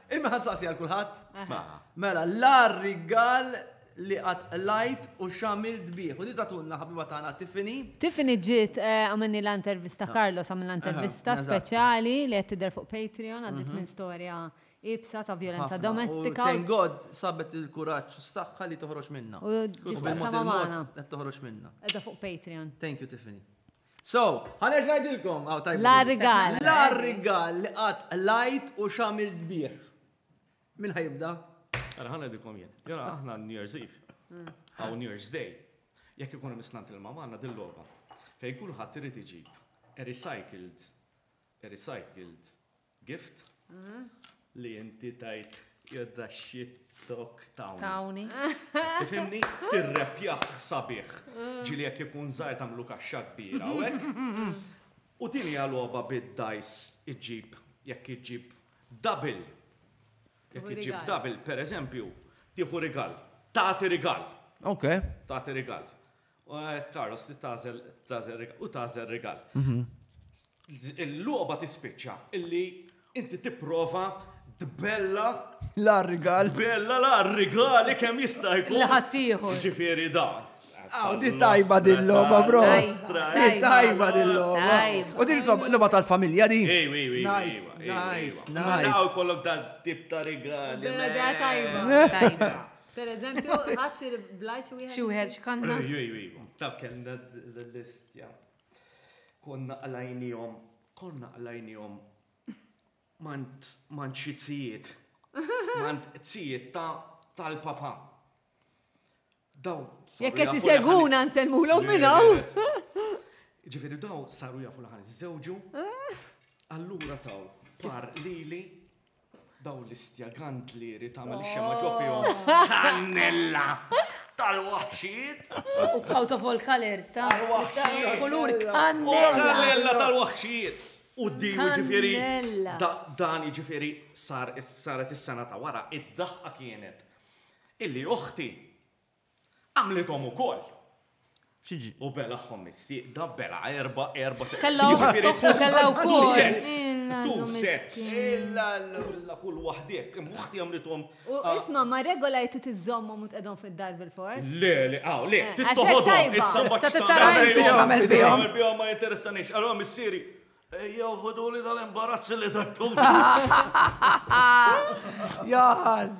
Speaker 8: Imma ħassasi għal kulħadd. Mela, l-ar rigal li għat lajt u xamil dbiħ. U di tatunna ħabiba tagħna Tiffany. Tiffany ġiet
Speaker 2: eh, għamilni l-intervista Carlos għamil l-intervista speċjali li qed tidher fuq Patreon għaddit mhm. minn storja ibsa ta' violenza domestika. Thank God sabet
Speaker 8: il-kuraġġ u s-saħħa li toħroġ minna. U
Speaker 2: ġiet toħroġ minna.
Speaker 8: Edha fuq Patreon.
Speaker 2: Thank you Tiffany.
Speaker 8: So, ħa nerġa' ngħidilkom, aw tajba. La rigal.
Speaker 2: La rigal
Speaker 8: li qatt lajt u x'għamilt bih. Min ħajibda? Ara ħa ngħidilkom
Speaker 4: jien. Jara aħna New Year's Eve. Mm. Aw New Year's Day. Jekk ikun hemm isnant il-mamma għandna dil-logħba. Fejn kulħadd irid iġib a recycled recycled gift li inti tajt jodda shit sok tawni. Tawni. Tifhimni? Tirrepjah sabiħ. Ġieli jekk ikun żgħir tagħmlu kaxxa kbira u hekk. U din hija logħba bid-dajs iġġib jekk iġġib double. Jekk iġġib double, pereżempju, tieħu rigal. Tagħti rigal. Ok.
Speaker 8: Tagħti rigal.
Speaker 4: Carlos li tażel tażel rigal u tażel rigal. Mhm. Il-logħba tispiċċa illi inti tipprova tbella La rigal.
Speaker 8: bella la
Speaker 4: rigali kemm jista' jkun. Li ħaddieħor. Ġifieri
Speaker 3: dan.
Speaker 4: Aw, di tajba
Speaker 8: din logħba, bro. Nostra, Di eh. tajba din logħba. Tajba. U din logħba- logħba tal-familja di. Ej, ej, ej, Nice, ej, ej, nice, ej. Ma nice. daw
Speaker 4: kollok dal tip ta' rigali. Bella man. da tajba.
Speaker 2: Tajba. Per eżempju, ħadd xi blajċ wieħed. Xi wieħed x'kanna.
Speaker 3: Ejju, ejju, ejju. Ta'
Speaker 4: kellna l-listja. Konna qlajnihom, konna qlajnihom mant mant xi tzijiet. Mant tzijiet ta' tal-papa. Daw. Jekk qed
Speaker 2: iseguna nsellmulhom minn hawn.
Speaker 4: Ġifieri daw saru jafu l-ħan żewġu. Allura taw par lili Daw l-istja gandlieri tagħmel xema ġo fihom. Kannella! Tal-waħxijiet! U
Speaker 3: out of all colors, ta' tal-waħxijiet! Kulur kannella!
Speaker 4: Kannella tal-waħxijiet! U di ġifieri. Dan ġifieri saret is-sena ta' wara, id-daħqa kienet illi oħti Għamlithom ukoll. X'jiġri?
Speaker 8: U belagħhom
Speaker 4: is-sieqda, belgħa erba', erba' sieqda. Kellha u
Speaker 3: kellha wkoll.
Speaker 4: Two sets. Illa kull waħda hekk. Imma uħti għamlithom. U isma' ma'
Speaker 2: regola hi trid iżżommhom u tqegħdhom fid-dar bil-fors. Le, le, aw, le.
Speaker 4: Trid toħodhom. Issa ma tista' tara inti
Speaker 3: x'tagħmel bihom. X'tagħmel bihom ma jinteressanix.
Speaker 4: Allura missieri Ejjew ħuduli dal-imbarazzi li tattum.
Speaker 3: Jaħaz.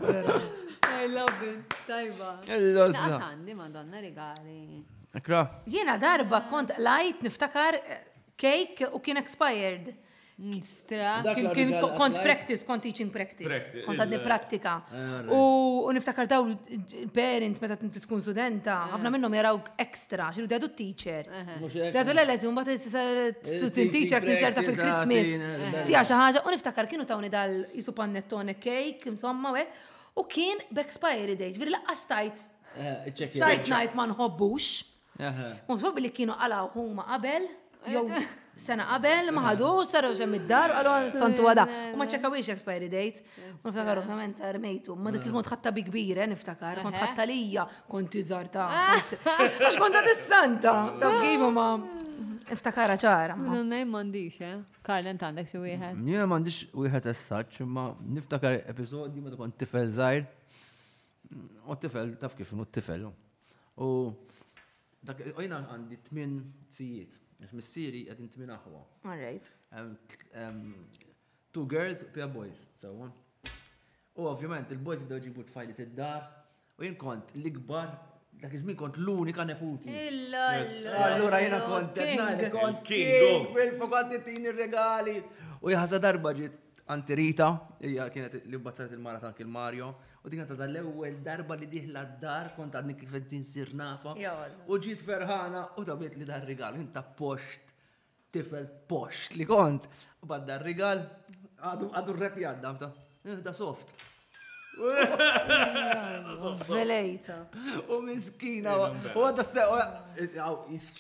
Speaker 3: I
Speaker 2: love it. Tajba. Illa Għandi madonna regali. Ekra.
Speaker 3: Jena darba kont lajt niftakar
Speaker 8: eh,
Speaker 3: cake u kien expired. Kien kont practice, kont teaching practice, kont għadni eh, prattika. Eh, u niftakar daw parents meta tkun studenta, ħafna minnhom jaraw ekstra, xinu dedu teacher. Raġu l leżi mbagħad il-student teacher kien ċerta fil-Christmas. Tija xi ħaġa u niftakar kienu tawni dal jisu pannettone cake, insomma hekk, u kien b'expiry date, ġifieri laqqas tajt ċajt ngħid ma nħobbux. Nħobbi li kienu għalaw huma qabel, jew sena qabel, ma ħadu, saru xem id-dar, għalu għal santu għada. U ma ċekawiex expiry date. Niftakar ovvjament ta' rmejtu, ma dik il-kont ħatta bi kbira, eh, niftakar, kont ħatta lija, kont iżar ta' għax kont ta' dissanta, ta' bgibu ma' iftakara ċara. Nunna jimmandiċ,
Speaker 2: eh? Karl, ent għandek xie wieħed? Nja mandiċ wieħed
Speaker 8: essaċ, ma niftakar episodju ma kont tifel zaħir, u tifel, taf kif, u tifel. U dak, ojna għandi tmin sijiet, missieri għedin tmin aħwa. All right. Two girls u pia boys, sewwa. U ovvjament il-boys bdew ġibu tfajlit id-dar u jien kont l-ikbar dak iż-żmien kont l-unika neputi. Allura jiena kont kont king fil-fu kont titini regali. U jaħsa darba ġiet Anti Rita, hija kienet li bazzat il-mara ta' Anki Mario, u din ta' l-ewwel darba li diħla d-dar kont għadni kif qed nsir nafa. U ġiet ferħana u tabit li dar rigal, inta post tifel posh li kont, badda r-rigal, għadu r-rep jadda, ta' eh, soft.
Speaker 3: Velejta. U
Speaker 8: miskina, u għadda se,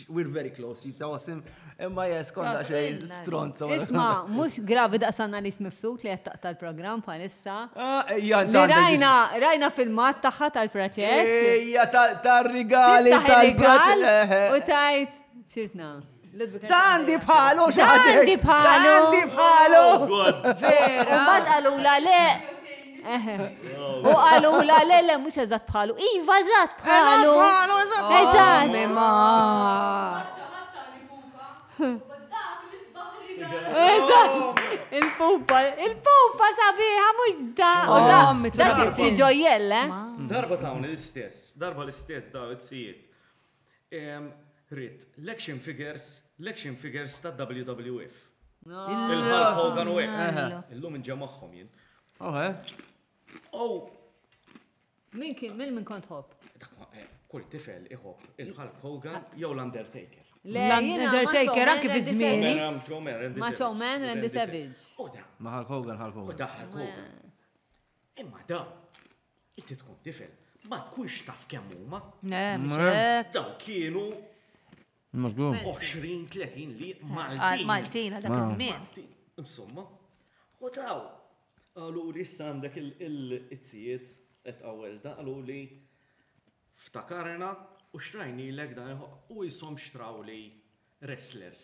Speaker 8: we're very close, jisa wasim, imma jes konda xej stronza. Isma, mux
Speaker 2: gravi da' sanna li smifsut li għattaq tal-program palissa. Ah, eh, rajna, rajna filmat taħħa tal-proċess. Ija
Speaker 8: tal-rigali tal-proċess. U tajt.
Speaker 2: Sirtna. Da għandi
Speaker 8: bħalu, xaħġa. Għandi bħalu. Għandi
Speaker 2: bħalu.
Speaker 8: Vera.
Speaker 2: Ma għalu la le. U għalu la le le mux eżat bħalu. Iva eżat bħalu. Bħalu eżat. Eżat. Mima. Il-pupa, il-pupa sabiħa mux da. U da, da xieġojjelle. Darba ta'
Speaker 4: l-istess, darba l-istess da, it-sijiet. Ridt, l-action figures, l-action figures tad-WWF. Il-Hulk Hogan u hekk. Illum inġa' magħhom jien. Oh!
Speaker 2: Min kien, min min kont ħobb? Kull
Speaker 4: tifel iħobb il-Hulk Hogan jew l-Undertaker. L-Undertaker
Speaker 3: anki fi żmieni. Macho
Speaker 2: Man, Randy Savage. Ma Hulk Hogan,
Speaker 8: Hulk Hogan.
Speaker 4: Imma dawn, inti tkun tifel, ma tkunx taf kemm huma. Dawn kienu 20-30 li Maltin. Maltin għal
Speaker 3: dak iż-żmien. Insomma,
Speaker 4: u taw, għalu li issa għandek il-izzijiet qed għawel da, għalu li ftakarna u xtrajni l-ek dan u jisom xtraw li wrestlers.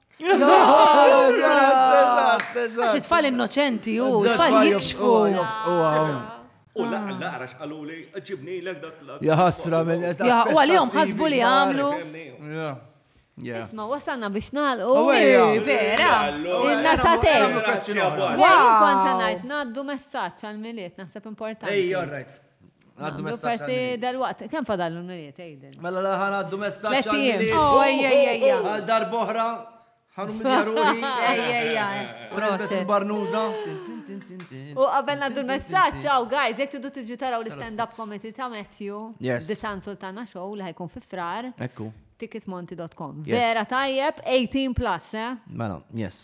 Speaker 3: Għax it-tfal innoċenti u t-tfal jikxfu. U
Speaker 4: laqra xqalu li ġibni l dak l Jaħasra minn età.
Speaker 8: U għalihom ħasbu
Speaker 3: li għamlu. Isma,
Speaker 2: wasalna biex nalqu. Vera.
Speaker 3: Inna
Speaker 2: satej. Għallu kont sanajt naddu messaċ għal-miliet, naħseb importanti. Ej, all right.
Speaker 8: Għaddu messaċ. Festi dal-waqt, kem fadallu
Speaker 2: n-nuriet, ejden. Mela laħan għaddu messaċ.
Speaker 8: Tlettijiem. Oh, ejja,
Speaker 3: ejja, ejja. Għal
Speaker 8: darboħra, ħanum il-jaruħi. Ejja, ejja.
Speaker 3: Proset.
Speaker 8: Barnuza.
Speaker 2: U għabel għaddu messaċ, għaw, guys, jek tidu tiġu taraw l-stand-up comedy ta' Matthew. Yes. Disan Sultana Show li ħajkun fi frar. Ekku.
Speaker 8: Ticketmonti.com.
Speaker 2: Vera tajjeb, 18 plus, eh? Mela, yes.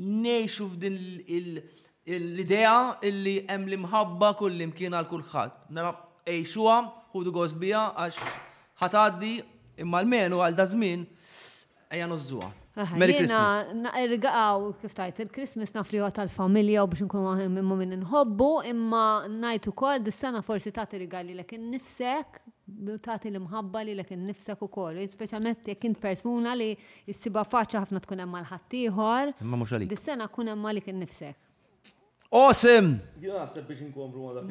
Speaker 8: Ngħixu f'din l-idea illi hemm l-imħabba kullimkien għal kulħadd. Mela għixuha, ħudu gost biha għax ħa tgħaddi imma almenu għal daż-żmien ejja nużżuha. Merry Christmas. Irgaqgħu
Speaker 2: kif tgħid il-Christmas naf li huwa tal-familja u biex inkunu aħna ma' min inħobbu imma ngħid ukoll dis-sena forsi tagħti rigal lilek innifsek, tagħti l-imħabba lilek innifsek ukoll, speċjalment jekk int persuna li Issibha faċli ħafna tkun hemm għal ħaddieħor. Imma mhux għalik. Dis-sena
Speaker 8: kun hemm għalik
Speaker 2: innifsek. Awesome!
Speaker 8: Jien naħseb biex
Speaker 4: inkomplu ma dak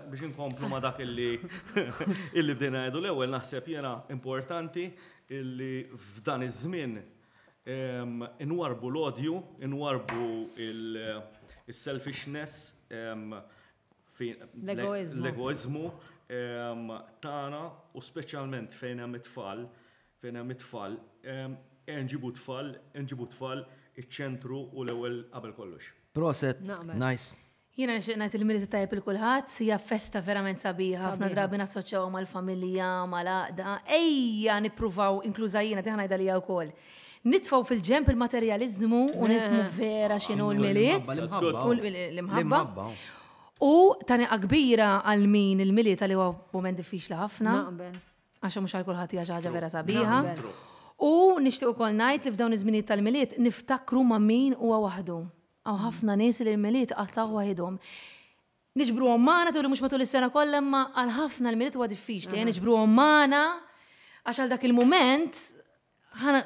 Speaker 4: biex inkomplu ma dak illi illi bdejna ngħidu l-ewwel naħseb jiena importanti illi f'dan iż-żmien ehm, inwarbu l-odju, inwarbu il-selfishness ehm, l-egoizmu ehm, tagħna u speċjalment fejn hemm it-tfal Fejn hemm it-tfal, ejja nġibu t-tfal, nġibu t-tfal iċ-ċentru u l-ewwel qabel kollox. Proset,
Speaker 8: nice. Jiena nixtieq ngħid
Speaker 3: il-Milied it-Tajjeb lil kulħadd, hija festa verament sabiħa, ħafna drabi nassoċjawha mal-familja, mal-għaqda, ejja nippruvaw, inkluża jiena, diħa ngħidha lija wkoll, nitfgħu fil-ġenb il-materjaliżmu u nifhmu vera x'inhu l-Milied, l-imħabba, u taniqqa kbira għal min il-Milied għalih huwa mument diffiċli ħafna. Għax mhux għal kulħadd hija xi ħaġa vera sabiħa. U nixtieq ukoll ngħid li f'dawn iż-żminijiet tal-milied niftakru ma' min huwa waħdu. Aw ħafna nies li l-milied qattgħu waħidhom. Niġbruhom magħna turi mhux matul is-sena kollha imma għal ħafna l-milied huwa diffiċli, eh, niġbruhom magħna għax għal dak il-mument ħana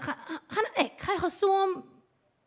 Speaker 3: hekk ħajħossuhom